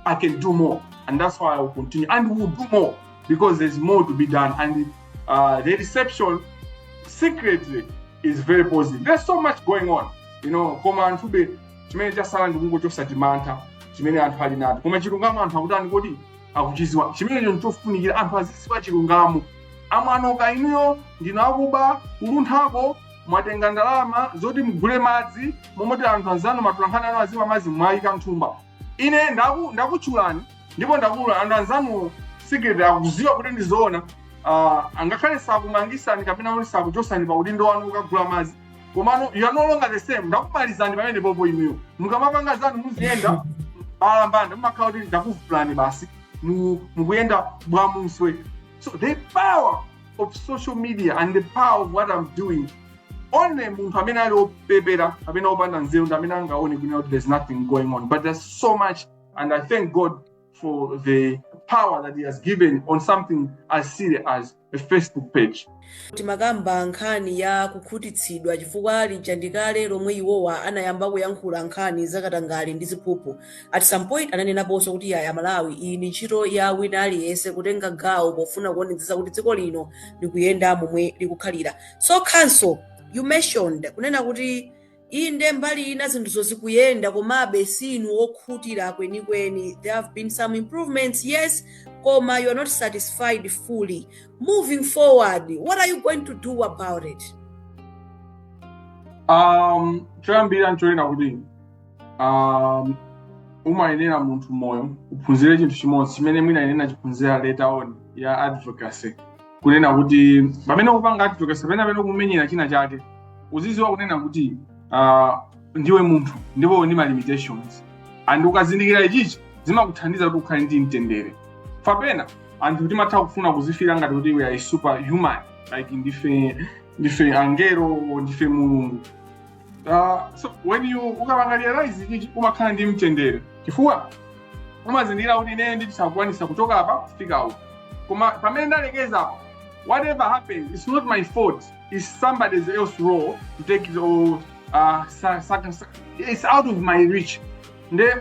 i can do more and that's why i will continue and we will do more because there's more to be done. And uh, the reception secretly is very positive. There's so much going on. You know, koma anthube chimene chasala ndi kungochosa chimantha chimene anthu ali nacho koma chilungamo anthu akutani kodi akuchiziwa chimenecho nchofunikira anthu aziziwa chilungamo amwanoka inuyo ndinu akuba ku Lunthako mwatenga ndalama zoti mugule madzi momoti anthu anzanu matolankhani anu azimwa madzi mwayika m'thumba ine ndaku- ndakutchulani ndipo ndakuyalutsani anzanuwo secret akuziwa kuti ndi zoona ah, angakhale sakumangisani kapena kuti sakuchosani pa udindo wanu ukagula madzi komano you are no longer the same ndakumalizani pamene popo inuyo mukamapanga zanu muziyenda balambanda mumakhala kuti ndakuvulani basi mu- mukuyenda bwamuswe so the power of social media and the power of what i'm doing only munthu amene ali opepera kapena opanda nzeru ndi amene angaone kuti there's nothing going on but there's so much And I thank God for the power that he has given on something as serious as a Facebook page. timakamba nkhani ya kukhutitsidwa chifukwa lija ndikale lomwe iwowa anayamba kuyankhula nkhani zakatangale ndi ziphuphu at some point ananenaponso kuti yaya malawi iyi ndi ntchito ya wina aliyense kutenga gawo pofuna kuonetsetsa kuti dziko lino likuyenda momwe likukhalira so counsel you mentioned kunena kuti Inde, mbali ina zinthuzo zikuyenda, komabe si inu okhutira kwenikweni. There have been some improvements, yes, koma you are not satisfied fully. Moving forward, what are you going to do about it? um, choyambira nchonena kuti um, umayenera munthu m'moyo uphunzire chinthu chimodzi chimene mwina ine nachiphunzira later on ya advocacy kunena kuti pamene ukupanga advocacy pamene pamene ukumenyera china chake uziziwa kunena kuti uh, ndiwe munthu ndipo uli ndi ma limitations and ukazindikira ichichi zimakuthandiza kuti ukhale ndi mtendere kapena anthu timatha kufuna kuzifila ngati kuti we are superhuman like ndife ndife angelo ndife mulungu uh, so when you ukapanga realize ichichi umakhala ndi mtendere chifukwa umazindikira kuti ine ndisakukwanisa kuchoka apa kufika uku koma pamene ndalekeza apa whatever happens it's not my fault it's somebody else's role to take it on uh, sa, sa, sa, it's out of my reach nde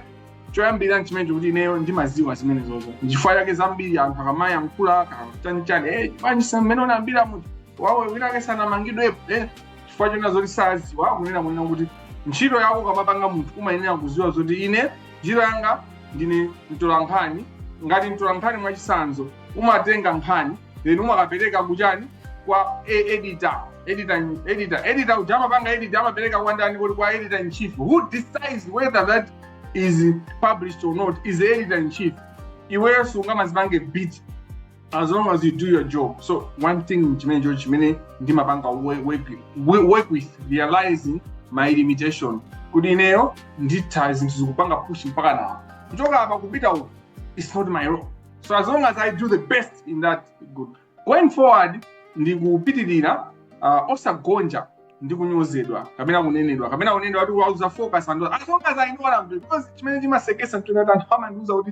choyambira nchimenecho kuti ineyo ndimaziwa zimene zozo nchifukwa chake zambiri anthu akamayankhula chanichani eh, bwanji mmene unayambira munthu wawo winake sanamangidwepo eh, chifukwa choona zoti saziwa kunena kunena kuti ntchito yako ukamapanga munthu umayenera kuziwa zoti ine ntchito yanga ndine mtolankhani ngati mtolankhani mwachisanzo umatenga nkhani then umakapereka kuchani kwa e- editor editor editor editor uja amapanga edit amapereka kwa ndani kodi kwa editor in chief who decides whether that is published or not is the editor in chief iweyo sungamazipange beat as long as you do your job so one thing chimenecho chimene ndimapanga work, work, work with realizing my limitation kuti ineyo nditha zinthuzi kupanga push mpakana apa kuchoka apa kupita uku it's not my role so as long as i do the best in that good going forward ndikupitirira uh, osagonja ndi kunyozedwa kapena kunenedwa kapena kunenedwa kuti waluza focus and as long as i know what i'm doing because chimene chimasekesa mtunatani anthu amandiuza kuti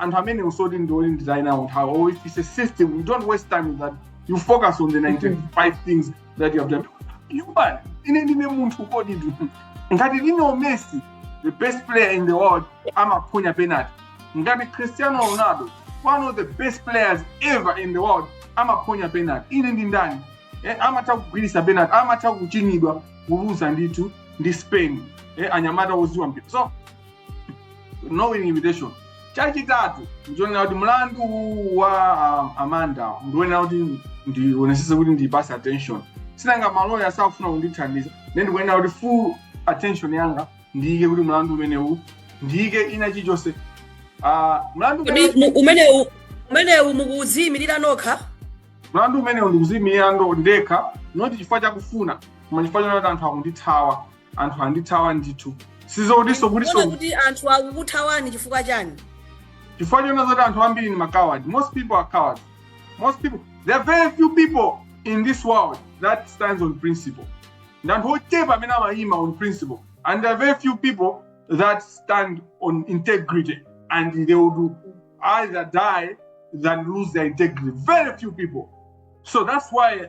anthu amene usoti ndi oti nditayi nawo nthawi or if it's a system you don't waste time with that you focus on the 95 things that you have done human ine ndine munthu kodi tu ngati lionel messi the best player in the world amaphonya penalty ngati cristiano ronaldo one of the best players ever in the world amaphonya penalty ine ndi ndani eh, amatha kugwirisa penalty amatha kuchinyidwa kuluza ndithu ndi spain eh, anyamata oziwa mpira so no winning invitation chachitatu ndichonena kuti mlandu wa um, amanda ndichonena kuti ndionesese kuti ndipase attention sinanga maloya sakufuna kundithandiza ne ndikuyenera kuti full attention yanga ndiyike kuti mlandu umenewu ndiyike ina chichonse uh, mlandu Kodi umenewu- mu- umenewu umenewu mukuziyimirira nokha mlandu umenewu ndikuziyimirira ndekha not chifukwa chakufuna koma chifukwa chonena kuti anthu akundithawa anthu andithawa ndithu sizokutinso Muona kutinso kuti anthu akukuthawani chifukwa chani chifukwa chonena zoti anthu ambiri ndi macoward most people are cowards most people there are very few people in this world that stands on principle ndi anthu ochepa amene amayima on principle and there are very few people that stand on integrity and they would either die than lose their integrity very few people so that's why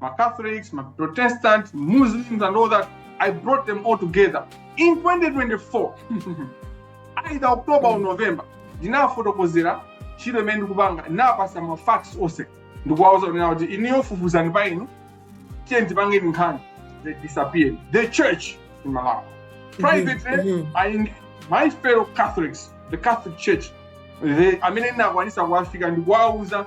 ma Catholics, ma Protestants, Muslims, and all that. I brought them all together. In 2024, either October or November, ndinafotokozera ntchito imene ndikupanga napasa ma facts onse ndikuwauza kunena kuti inuyo fufuzani pa inu tiyeni tipange nkhani they disappeared the church in malawi privately Mhm. i engage my fellow catholics the catholic church amene ndinakwanisa kuwafika ndikuwauza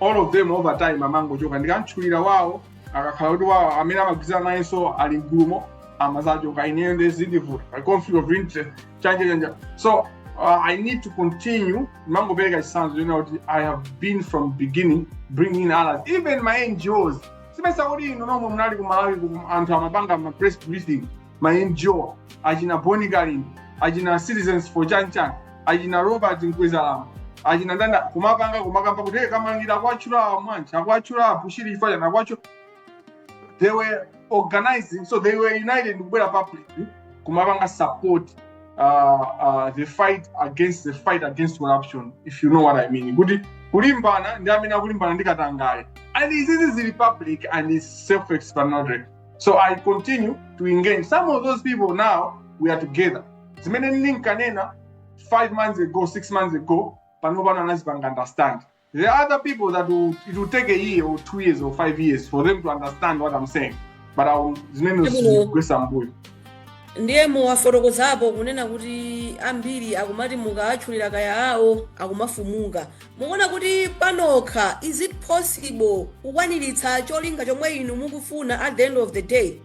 all of them over time amangochoka ndikamtchulira wawo akakhala kuti wawo amene amagwirizana nayenso ali mgulumo amazachoka ineyo ndi zindivuta pa conflict of interest chanichani so uh, i need to continue ndimangopereka chisanzo chonena kuti i have been from beginning bringing in others even ma ngos simesa kuti inu nomwe munali ku malawi ku anthu amapanga ma press briefing ma ngo achina bon kalindo achina citizens for chanchan achina robert mkwezalamba achina ndani kumapanga kumakamba kuti "Hey, kamangira akwatchula amwanji akwatchula abushiri ifa chani akwatchula they were organizing so they were united kubwera public kumapanga support uh, uh, the fight against the fight against corruption if you know what i mean kuti kulimbana ndi amene akulimbana ndi katangale and izizi zili public and is self explanatory so i continue to engage some of those people now we are together zimene ndinkanena five months ago six months ago panopa anazipanga understand there are other people that will, it will take a year or two years or five years for them to understand what i'm saying but I will- zimene zikugwesa mbuyo ndiye muwafotokozapo kunena kuti ambiri akumati mukaatchulira kaya awo akumafumuka Mukuona kuti panokha is it possible kukwaniritsa cholinga chomwe inu mukufuna at the end of the day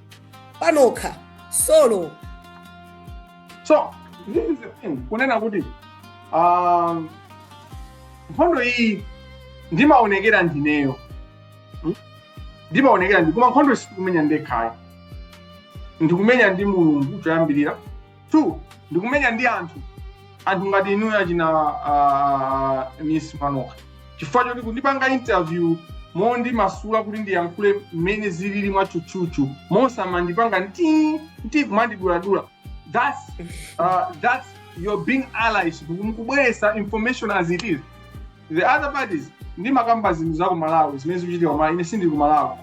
panokha solo so this is the thing kunena kuti um, nkhondo iyi ndimaonekera ndineyo Hmm? ndimaonekera ndine koma nkhondoyi sindikumenya ndekhayo ndikumenya ndi mulungu choyambirira two ndikumenya ndi anthu anthu ngati inuyo achina uh, miss manoka chifukwa choti kundipanga interview mondimasula kuti ndiyankhule mmene zilili mwatchutchutchu mosamandipanga nti nti kumandiduladula that's, uh, that's you're being allies mukubweresa information as it is the other parties ndimakamba zinthu za ku malawi zimene zikuchitika ku malawi ine sindili ku malawi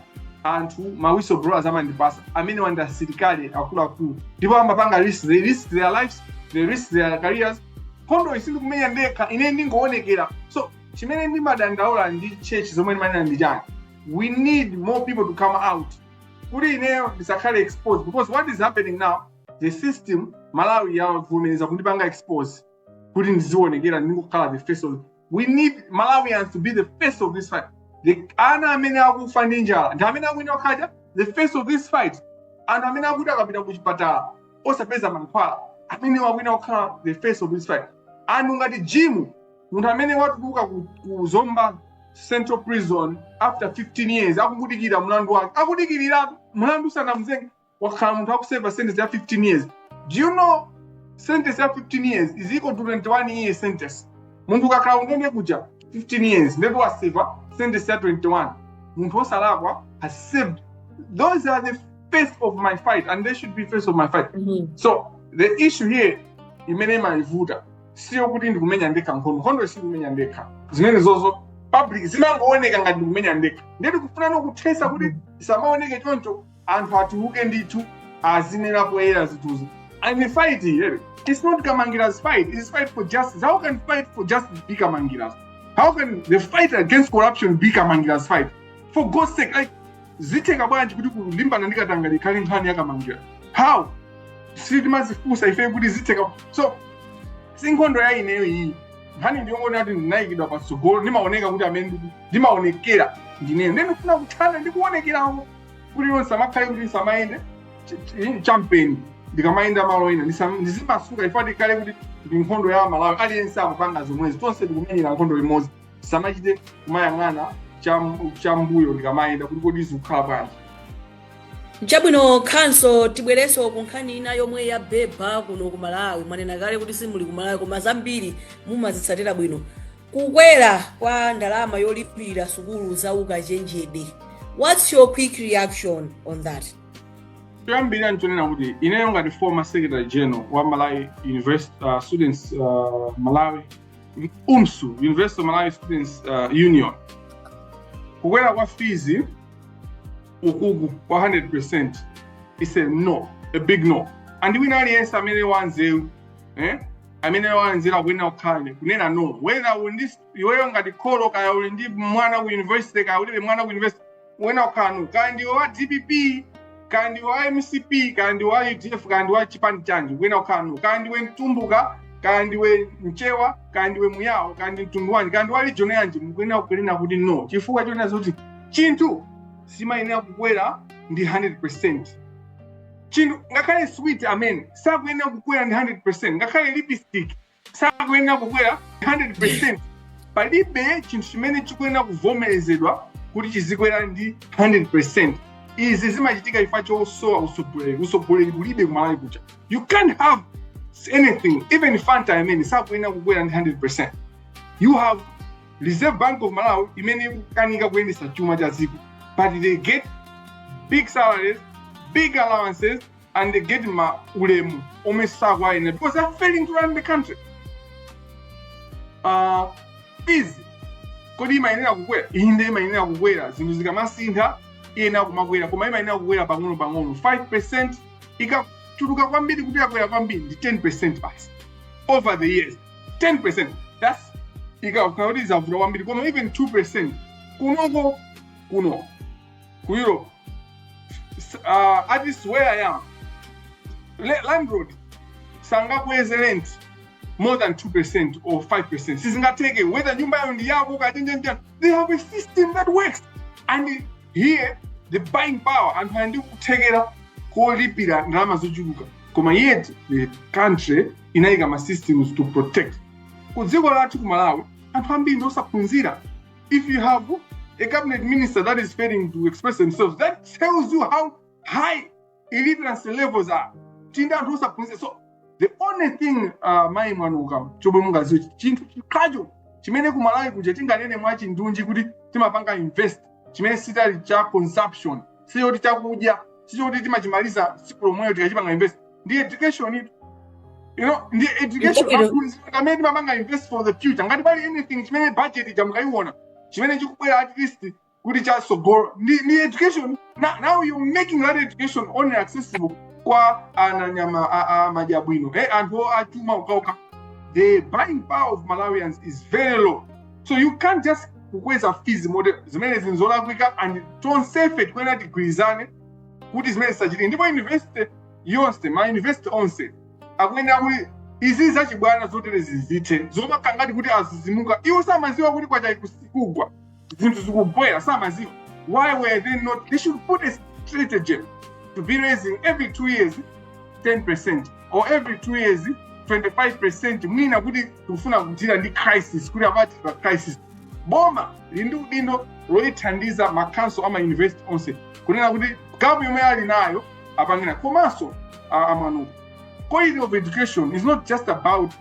anthu ma whistleblowers amandipatsa amenewa ndi asilikali akuluakulu ndipo amapanga risk they risk their lives they risk their careers nkhondo iyi sindikumenya ndekha ine ndingoonekera so chimene ndimadandaula ndi church zomwe ndimanena ndi chani we need more people to come out kuti ineyo ndisakhale exposed because what is happening now the system malawi yavomereza kundipanga expose kuti ndiziwonekera ndingokhala the face of it we need malawians to be the face of this fight the ana amene akufa ndi njala ndi amene akuyenera kukhala the face of this fight anthu amene akuti akapita ku chipatala osapeza mankhwala amenewa akuyenera kukhala the face of this fight anthu ngati jim munthu amene watuluka ku, ku zomba central prison after 15 years akudikirira mlandu wake akudikirira mlandu sanamzenge wakhala munthu akuseva sentence ya 15 years do you know sentence ya 15 years is equal to 21 year sentence munthu ukakhala kundende kuja 15 years ndiye kuti waseva sentence ya 21 munthu osalakwa has served those are the face of my fight and they should be face of my fight Mhm. so the issue here imene imavuta si yakuti ndikumenya ndekha nkhondo nkhondoyi sindikumenya ndekha zimenezo ku public zimangooneka ngati ndikumenya ndekha ndiye tikufuna kuthesa kuti isamaoneke choncho Anthu atuluke ndithu azinena poyera zinthuzi and the fight here it's not Kamangiras fight it's fight for justice how can fight for justice be Kamangiras how can the fight against corruption be Kamangiras fight for God's sake like zitheka bwanji kuti kulimbana ndi katangale ikhale nkhani ya Kamangira how sitimadzifunsa ife kuti zitheka so si nkhondo ya ineyo iyi nkhani ndi yongonena kuti ndinayikidwa patsogolo ndimaoneka kuti amene ndimaonekera ndineyo ndikufuna kuthana ndi kuonekerako kuti ineyo ndisamakhale kuti ndisamayende ch- ch- champheno ndikamayenda malo ena ndisam- ndizimasuka chifukwa tikhale kuti ndi nkhondo ya amalawi aliyense akupanga zomwezi tonse tikumenyera nkhondo limodzi ndisamachite kumayang'ana cham- chambuyo ndikamayenda kuti kodi zikukhala bwanji chabwino khanso tibwerenso ku nkhani ina yomwe yabeba kuno ku malawi mwanena kale kuti simuli ku malawi koma zambiri mumazitsatira bwino Kukwera kwa ndalama yolipira sukulu za ukachenjede, what's your quick reaction on that? Choyambirira nchonena kuti ineyo ngati former secretary general wa Malawi University uh, Students uh, Malawi UMSU University of Malawi Students uh, Union kukwera kwa fees ukuku kwa 100% is a no a big no and wina aliyense amene wanzeru eh? amene wanzeru kuyenera kukhala ine kunena no whether uli iweyo ngati kholo kaya uli ndi mwana ku university kaya ulibe mwana ku university kuyenera kukhala no kaya ndiwe wa dpp kaya ndiwe wa mcp kaya ndiwe wa udf kaya ndiwe wa chipani chanji kuyenera kukhala no kaya ndiwe mtumbuka kaya ndiwe mchewa kaya ndiwe muyawo kaya ndi mtundu wanji kaya ndiwe wa region yanji mukuyenera kunena kuti no chifukwa chonena zoti chinthu simayenera kukwera ndi 100% chinthu ngakhale sweet amene sakuyenera kukwera ndi 100% ngakhale lipstick sakuyenera kukwera 100% palibe chinthu chimene chikuyenera kuvomerezedwa kuti chizikwera ndi 100% izi zimachitika chifukwa chosowa usogoleri usogoleri kulibe kumalawi kuja you can't have anything even fanta amene sakuyenera kukwera ndi 100% you have reserve bank of malawi imene ikukanika kuyendetsa chuma cha dziko but they get big salaries big allowances and they get ulemu omwe sakuwayenera because they're failing to run the country uh, fees kodi imayenera kukwera inde imayenera kukwera zinthu zikamasintha iyenera kumakwera koma imayenera kukwera pang'ono pang'ono 5 percent ikachuluka kwambiri kuti yakwera kwambiri ndi 10 percent basi over the years 10% that's ikakhala kuti zavuta kwambiri koma even 2% kunoko kuno ku europe S- uh, at least where i am le- landlord sangakweze rent more than 2% or 5% sizingatheke whether nyumbayo ndi yako kachenjenja they have a system that works and here the buying power anthu ali ndi kuthekera kolipira ndalama zochuluka koma yet the country inayika ma systems to protect ku dziko lathu ku malawi anthu ambiri ndiosaphunzira if you have a cabinet minister that is failing to express themselves that tells you how high illiteracy levels are tili ndi anthu osaphunzira so the only thing uh, mayi mwanuka chomwe mungaziwe chinthu chokhacho chimene kumalawi kuja tinganene mwachindunji kuti timapanga invest chimene sitali cha consumption sichoti chakudya sichoti timachimaliza tsiku lomweyo tikachipanga invest ndi education itu you know the education amene timapanga invest for the future ngati pali anything chimene budget ija mukaiona chimene chikubwera at least kuti chasogolo ndi ndi education now, now you making that education only accessible kwa anayama a- a- amadya bwino eh, anthu achuma okhaokha the buying power of malawians is very low so you can't just kukweza fees moti zimenezi nzolakwika and tonsefe tikuyenera tigwirizane kuti zimenezi zisachitike ndipo university yonse ma university onse akuyenera kuti izi zachibwana zotere zizithe zomakhala ngati kuti azizimuka iwo samaziwa kuti kwacha kugwa zinthu zikukwera samaziwa why were they not they should put a strategy to be raising every two years 10 percent or every two years 25 percent mwina kuti tikufuna kudila ndi crisis kuti apa tili pa crisis boma lili ndi udindo loyithandiza makhanso a mayunivesiti onse kunena kuti gapu yomweyo ali nayo apangena komanso a- mwanu quality of education is not just about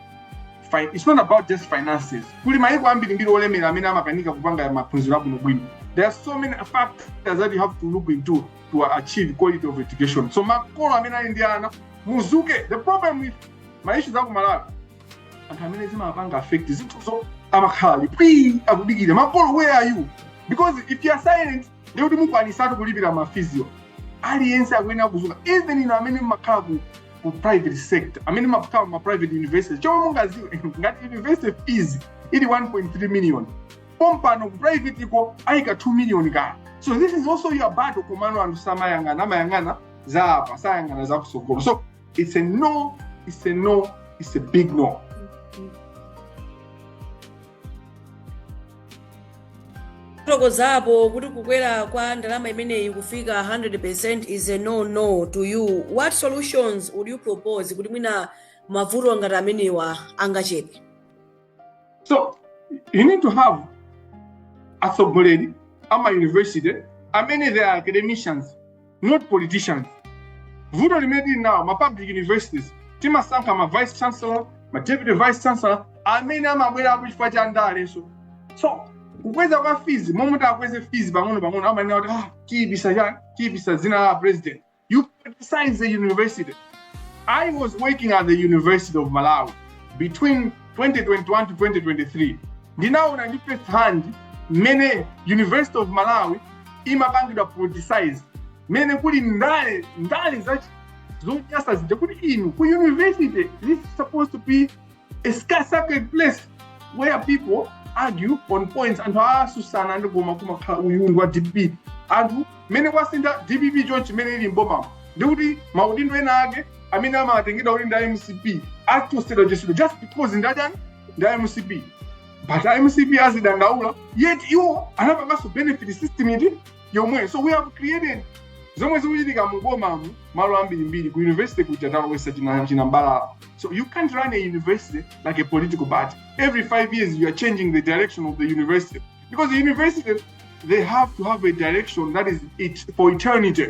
fi- it's not about just finances kuli mayiko ambirimbiri olemera amene amakanika kupanga maphunziro abwinobwino there are so many factors that you have to look into to achieve quality of education so makolo amene ali ndi ana muzuke the problem with ma issues aku malawi anthu amene zimapanga affect zinthuzo amakhala ali phii akudikira makolo where are you because if you are silent ndiye kuti mukwanisatu kulipira mafiziyo aliyense akuyenera kuzuka even inu amene mmakhala ku ku private sector amene mmakhala ma private university chomwe mungaziwe ngati university fees ili 1.3 million pompano ku private ko ayika 2 million kaya so this is also your battle komano anthu samayang'ana amayang'ana za apa sayang'ana za kusogolo so it's a no it's a no it's a big no mwafotokozapo kuti kukwera kwa ndalama imeneyi kufika 100% is a no no to you what solutions would you propose kuti mwina mavuto ngati amenewa angachepe so you need to have atsogoleri ama university amene they are academicians not politicians vuto limene tili nalo ma public universities timasankha ma vice chancellor ma deputy vice chancellor amene amabwera apo chifukwa cha ndale so kukweza kwa fees momwe takweze fees pang'ono pang'ono amanena kuti ah tiyipisa tiyipisa dzina la president You politicize the university. I was working at the University of Malawi between 2021 to 2023. Ndinaona ndi first hand mmene University of Malawi imapangidwa politicize mmene kuli ndale ndale zonyasa zija kuti inu ku university this is supposed to be a sacred place where people argue on points anthu asusana and kumakukhala uyu ndi wa dpp anthu mmene kwasintha dpp chonchi imene ili mbomamo ndikuti maudindo ena ake amene amatengedwa kuti ndi a mcp achotsedwachotsedwa just because ndi achani ndi a mcp but a mcp azidandaula yet iwo anapanganso benefit system iti yomweyo so we have created zomwe zikuchitika mu bomamu malo ambirimbiri ku university kuja talowesa china china mbalala so you can't run a university like a political party every five years you are changing the direction of the university because the university they have to have a direction that is it for eternity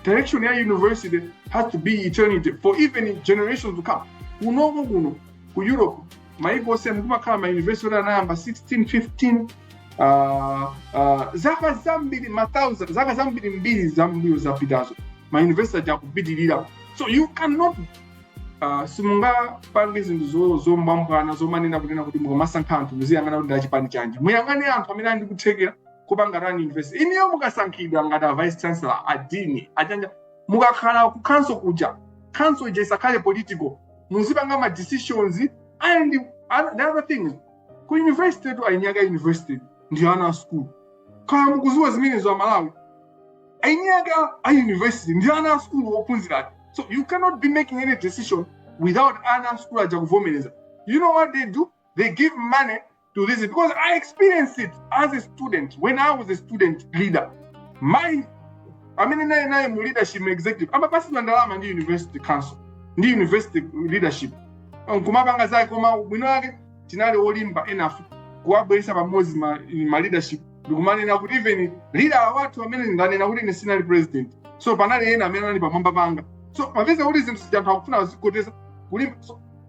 direction ya university has to be eternity for even generations to come kunoko kuno ku europe maiko onse mukumakhala ma university oti anayamba 1615 uh, uh, zaka zambiri ma thousand zaka zambiri mbiri zammbuyo zapitazo ma university aja akupitirira so you cannot uh, simungapange zinthu zo- zombwambwana zomanena kunena kuti mukumasankha anthu muziyang'ana kuti ndachipani chanji muyang'ane anthu amene ali ndi kuthekera kupanga run university inuyo mukasankhidwa ngati a vice chancellor a dean achani aja mukakhala ku council kuja council ija isakhale political muzipanga ma decisions and other- the other thing ku universitytu eni ake a university ndi ana a school kaya mukuziwa zimenezo amalawi eni ake a university ndi ana a school ophunzira eti so you cannot be making any decision without ana a school aja kuvomereza you know what they do they give money to this because I experienced it as a student when I was a student leader. Munthu amene nayenaye mu leadership mu executive amapatsidwa ndalama ndi university council ndi university leadership nkumapanga zake koma bwino lake tinali olimba enough kuwabweretsa pamodzi ma, ma leadership ndikumanena kuti even leader wathu amene ndanena kuti ine sindinali president so panali ena amene anali pamwamba panga so mapeza kuti zinthu zija anthu akufuna azikoteza kulimba so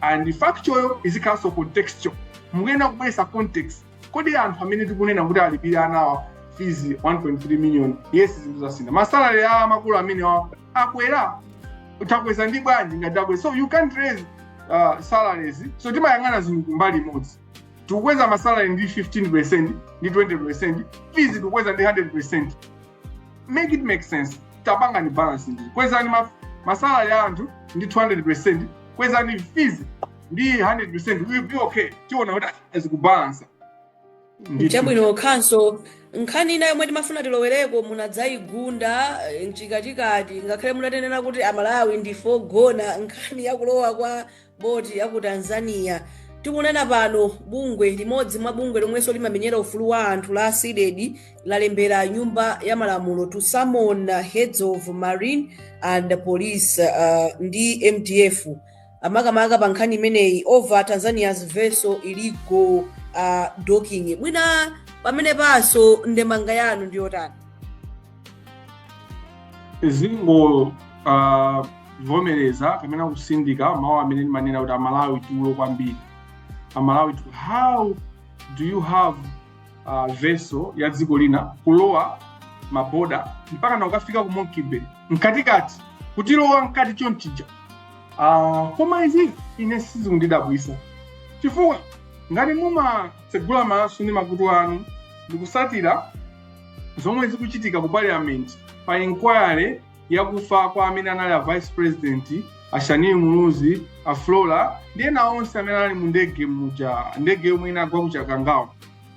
and factual izikhalanso contextual mukuyenera kubweresa context kodi anthu amene tikunena kuti alipire anawa fees 1.3 million yes zinthu zasintha masalary a makolo amenewa akwera takweza ndi bwanji ngati akweza so you can't raise uh, salaries so timayang'ana zinthu kumbali imodzi tikukweza masalary ndi 15 ndi 20 fees tikukweza ndi 100 make it make sense tapangani balance and kwezani ma- masalary a anthu ndi 200 kwezani fees ndi 100% we'll be okay tiona kuti zikubalansa chabwino khanso nkhani ina yomwe timafuna tilowereko munadzayigunda eh, mchikatikati ngakhale munatinena kuti amalawi ndife ogona nkhani yakulowa kwa boti ya ku tanzania tikunena pano bungwe limodzi mwa bungwe lomwenso limamenyera ufulu wa anthu la cdedi lalembera nyumba ya malamulo to summon uh, heads of marine and police uh, ndi mdf amakamaka pa nkhani imeneyi over tanzania's vessel illegal uh, docking mwina pameneponso ndemanga yanu ndi yotani zikungo ah, vomereza kapena kutsindika mawu amene ndimanena kuti amalawi tulo kwambiri amalawi tulo how do you have uh, vessel ya dziko lina kulowa maboda mpaka nakukafika ku monkey bay mkatikati kutilowa mkati chonchija uh, koma izi ine sizikundidabwisa chifukwa ngati mumatsegula maso ndi makutu anu ndikusatira zomwe zikuchitika ku parliament pa inquiry yakufa kwa amene anali a vice president a Shanil Muluzi, a Flora ndi ena onse amene anali mu ndege muja ndege yomwe inagwa ku Chikangawa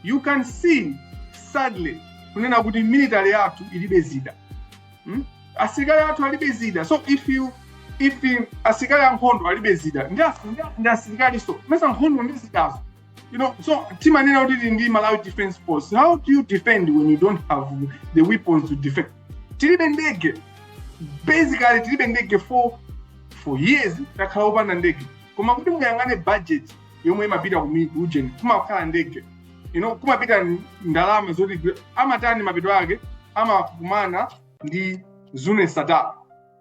you can see sadly kunena kuti military yathu ilibe zida hmm? asilikali athu alibe zida so if you if asilikali ankhondo alibe zida ndi asilikalinso mesa nkhondo ndi zidazo You know, so timanena kuti ndi Malawi defense force? How do you defend when you don't have the weapons to defend? Tilibe ndege, basically tilibe ndege for for years takhala opanda ndege koma kuti muyang'ane budget yomwe imapita ku mi- ujeni kumakhala ndege you know, kumapita ndalama zoti amatani mapeto ake amakumana ndi Zuneth Sattar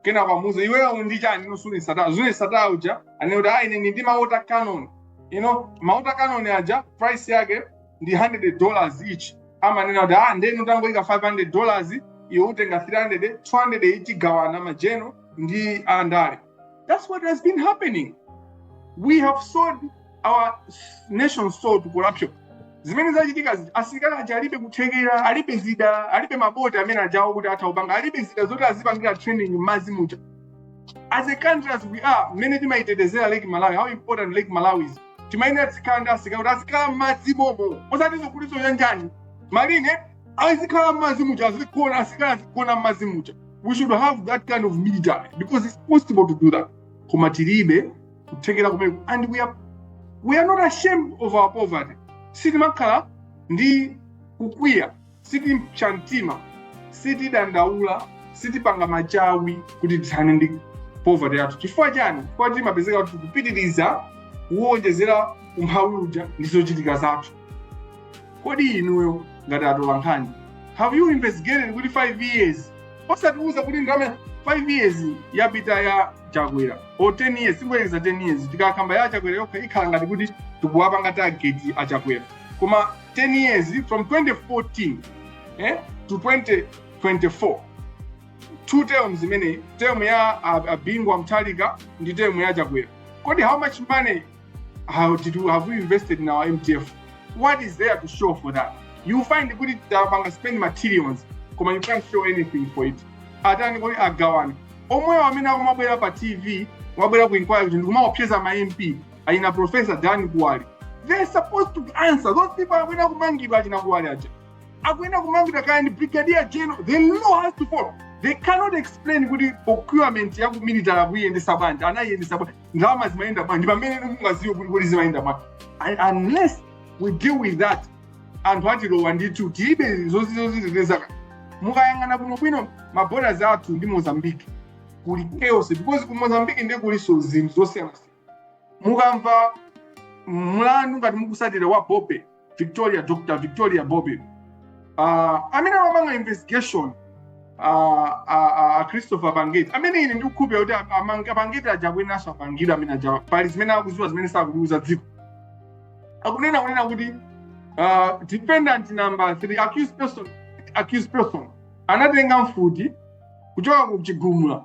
kenako amuuze iweyo ndi chani you know Zuneth Sattar Zuneth Sattar uja anene kuti ayi ine ndi ma water cannon you know ma water cannon aja price yake ndi 100 dollars each amanena kuti ah ndiye inu tangoikani 500 dollars iwe utenga 300 200 each agawana ma general ndi andale that's what has been happening we have sold our nation sold to corruption zimene zachitika zija asilikali aja alibe kuthekera alibe zida alibe maboti amene aja oti atha kupanga alibe zida zoti azipangira training m'madzi muja as a country as we are mmene timayitetezera lake malawi how important lake malawi is timayenera tizikhala ndi asilikali oti azikhala m'madzi momo osati zokuti zauja ujeni marine azikhala m'madzi muja azigona asilikali azigona m'madzi muja we should have that kind of military because it's possible to do that koma tilibe kuthekera kumene and we are, we are not ashamed of our poverty sitimakhala ndi kukwiya sitipsa mtima sitidandaula sitipanga machawi kuti tithane ndi poverty yathu chifukwa chani chifukwa timapezeka tikupitiriza kuwonjezera umphawi uja ndi zochitika zathu kodi inuyo ngati atolankhani have you investigated kuti 5 years osatiuza kuti ndalama 5 years yapita ya chakwera or 10 years tibwereze 10 years tikakamba ya chakwera yokha ikhala ngati kuti tikuwapanga target a chakwera koma 10 years from 2014 eh, to 2024 two terms imeneyi term ya ah, ah, Bingu wa Mutharika ndi term ya chakwera kodi how much money how much money have we invested in our mtf what is there to show for that you find kuti tapanga spend materials koma you can't show anything for it atani kodi agawana omwewo amene akumabwera pa tv kumabwera ku inquiry kuti nkumaopseza ma mp achina professor dan kuwali they're supposed to answer those people akuyenera kumangidwa achina kuwali aja akuyenera kumangidwa kaya ndi brigadier general the law has to follow they cannot explain kuti procurement ya ku military akuyendesa bwanji anayiyendesa bwanji ndalama zimayenda bwanji pamene inu mungaziwe kuti kuti zimayenda bwanji And unless we deal with that anthu atilowa ndithu tilibe zoziteteza mukayang'ana bwinobwino maborders athu ndi mozambique kuli chaos because ku mozambique ndiye kulinso zinthu zosiyanasiyana mukamva mlandu ngati mukusatira wa bobe victoria dr victoria bobe uh, amene amamanga investigation uh, uh, uh, christopher pangeti amene ine ndikukhulupira kuti a pangeti aja akuyenanso amangidwa amene aja pali zimene akuziwa zimene sakuliuza dziko akunena kunena kuti uh, defendant number 3 accused person accused person anatenga mfuti kuchoka ku chigumula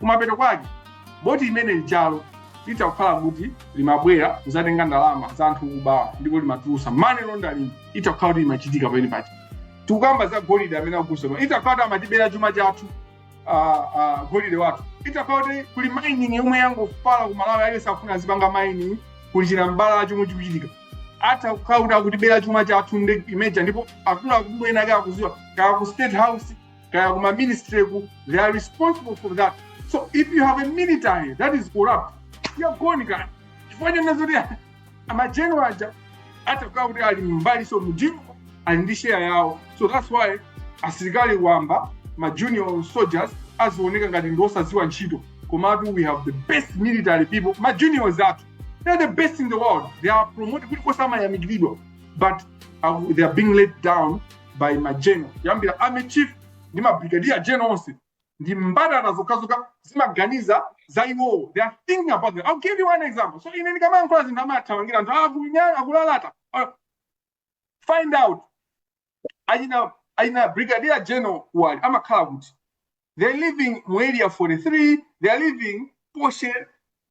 Kumapeto kwake, boti imene ijalo litha kukhala kuti limabwera kuzatenga ndalama za anthu okubawa ndipo limatulusa money laundering itha kukhala kuti imachitika pamenepaja tikukamba za golide amene akusema itha kukhala kuti amatibera chuma chathu uh, uh, golide wathu itha kukhala kuti kuli mining yomwe yangofala ku malawi aliyense afuna azipanga mining kuli chinambalala chomwe chikuchitika atha kukhala kuti akutibera chuma chathu ndi imeneija ndipo akuluakulu ena ake akuziwa kaya ku state house kaya kuma ministry ku they are responsible for that so if you have a military that is corrupt you are gone chifukwa chonena zoti ma general aja atha kukhala kuti ali mbali imodzi mujimo ali ndi sheya yawo so that's why asilikali wamba ma junior soldiers azioneka ngati ndi osadziwa ntchito komatu we have the best military people ma juniors athu they are the best in the world they are promoted kulikonse amayamikiridwa but uh, they are being let down by ma general kuyambira army chief ndi mabrigadier general onse ndi mbalala zokhazokha zimaganiza za iwowo they are thinking about them i'll give you one example so ine ndikamayankhula zinthu amathamangira anthu akunena akulalata Uh, find out achina achina brigadier general kuwali amakhala kuti they're living mu area 43 they're living posh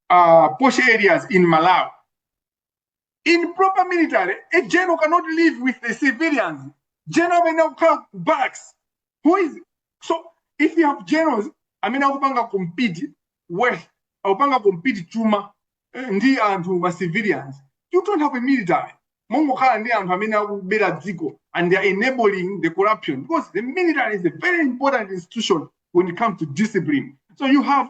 uh, posh areas in malawi in proper military a general cannot live with the civilians general amene akukhala barracks who is so if you have generals amene akupanga compete wealth akupanga compete chuma eh, ndi anthu ma civilians you don't have a military mongokhala ndi anthu amene akubera dziko and they are enabling the corruption because the military is a very important institution when it comes to discipline so you have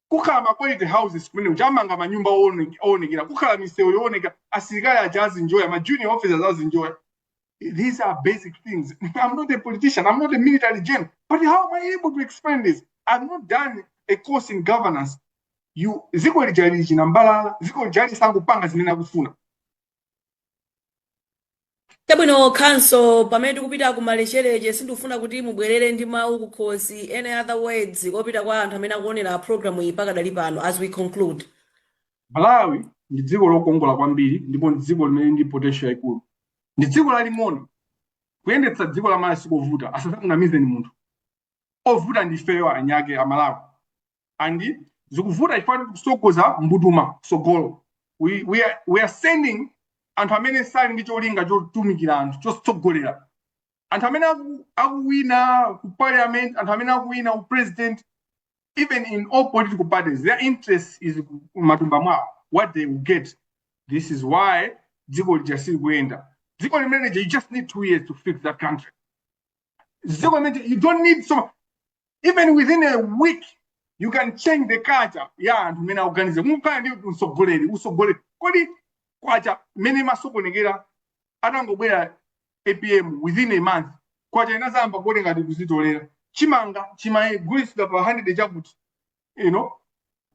kukhala ma quality houses kumene kuja amanga manyumba oone- oonekera kukhala misewu yooneka asilikali aja azinjoya ma junior officers azinjoya these are basic things i'm not a politician i'm not a military gen but how am i able to explain this i've not done a course in governance dziko lija lili chinambalala dziko lija likungopanga zimene akufuna chabwino counsel pamene tikupita kumalechereche sindikufuna kuti mubwerere ndi mawu kukhosi any other words kopita kwa anthu amene akuonera programu iyi pakadali pano as we conclude malawi ndi dziko lokongola kwambiri ndipo ndi dziko limene ndi potential yaikulu ndi dziko laling'ono kuyendetsa dziko la malawi sikovuta asazakunamizeni munthu ovuta ndi ifeyo eniake amalawi and zikuvuta chifukwa tikusogoza mbutuma sogolo we are sending anthu amene sali ndi cholinga chotumikira anthu chotsogolera anthu amene akuwina ku parliament anthu amene akuwina ku president even in all political parties their interest is matumba mwawo what they will get this is why dziko lija silikuyenda dziko limene lija you just need two years to fix that country dziko limene you don't need so even within a week you can change the culture ya anthu mene akuganiza mukukhala ndi utsogoleri utsogoleri kodi kwacha mmene imasokonekera atangobwera apm within a month kwacha inadzayamba kuoneka ngati ikudzitolera chimanga chimagulitsidwa pa 100 chakuti you know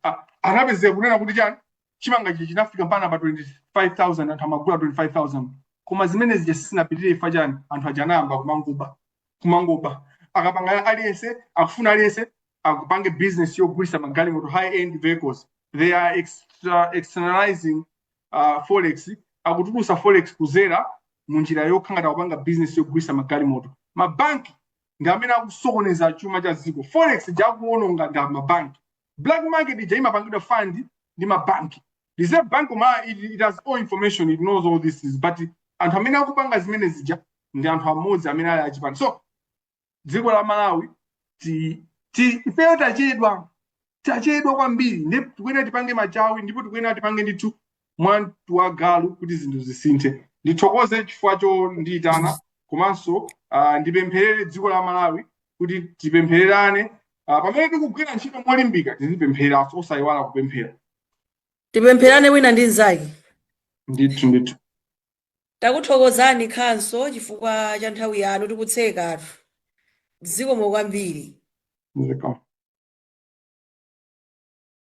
a- anapezeka kunena kuti chani chimanga ichi chinafika mpana pa 25000 anthu amagula 25000 koma zimene zija sizinapitirire chifukwa chani anthu aja anayamba kumangoba kumangoba akapanga aliyense akufuna aliyense akupange business yogulisa magalimoto high end vehicles they are externalizing forex akutulusa forex kuzera munjira yokhala ngati kupanga business yogulisa magalimoto mabanki ndi amene akusokoneza chuma cha dziko forex ija akuononga ndi amabanki black market ija imapangidwa fund ndi mabanki reserve bank it has all information it knows all this is but anthu amene akupanga zimene zija ndi anthu amodzi amene ali achipani so dziko la malawi ifeyo tachedwa tachedwa kwambiri ndipo tikuyenera tipange machawi ndipo tikuyenera tipange ndithu mwa mtu wa galu kuti zinthu zisinthe ndithokoze chifukwa chondiyitana komanso ndipempherere dziko la malawi kuti tipemphererane pamene tikugwira ntchito molimbika tizipempheranso osayiwala kupemphera tipempherane wina ndi mnzake ndithu ndithu Takuthokozani counsel chifukwa cha nthawi yanu tikutsekatu. Zikomo kwambiri. Zikomo.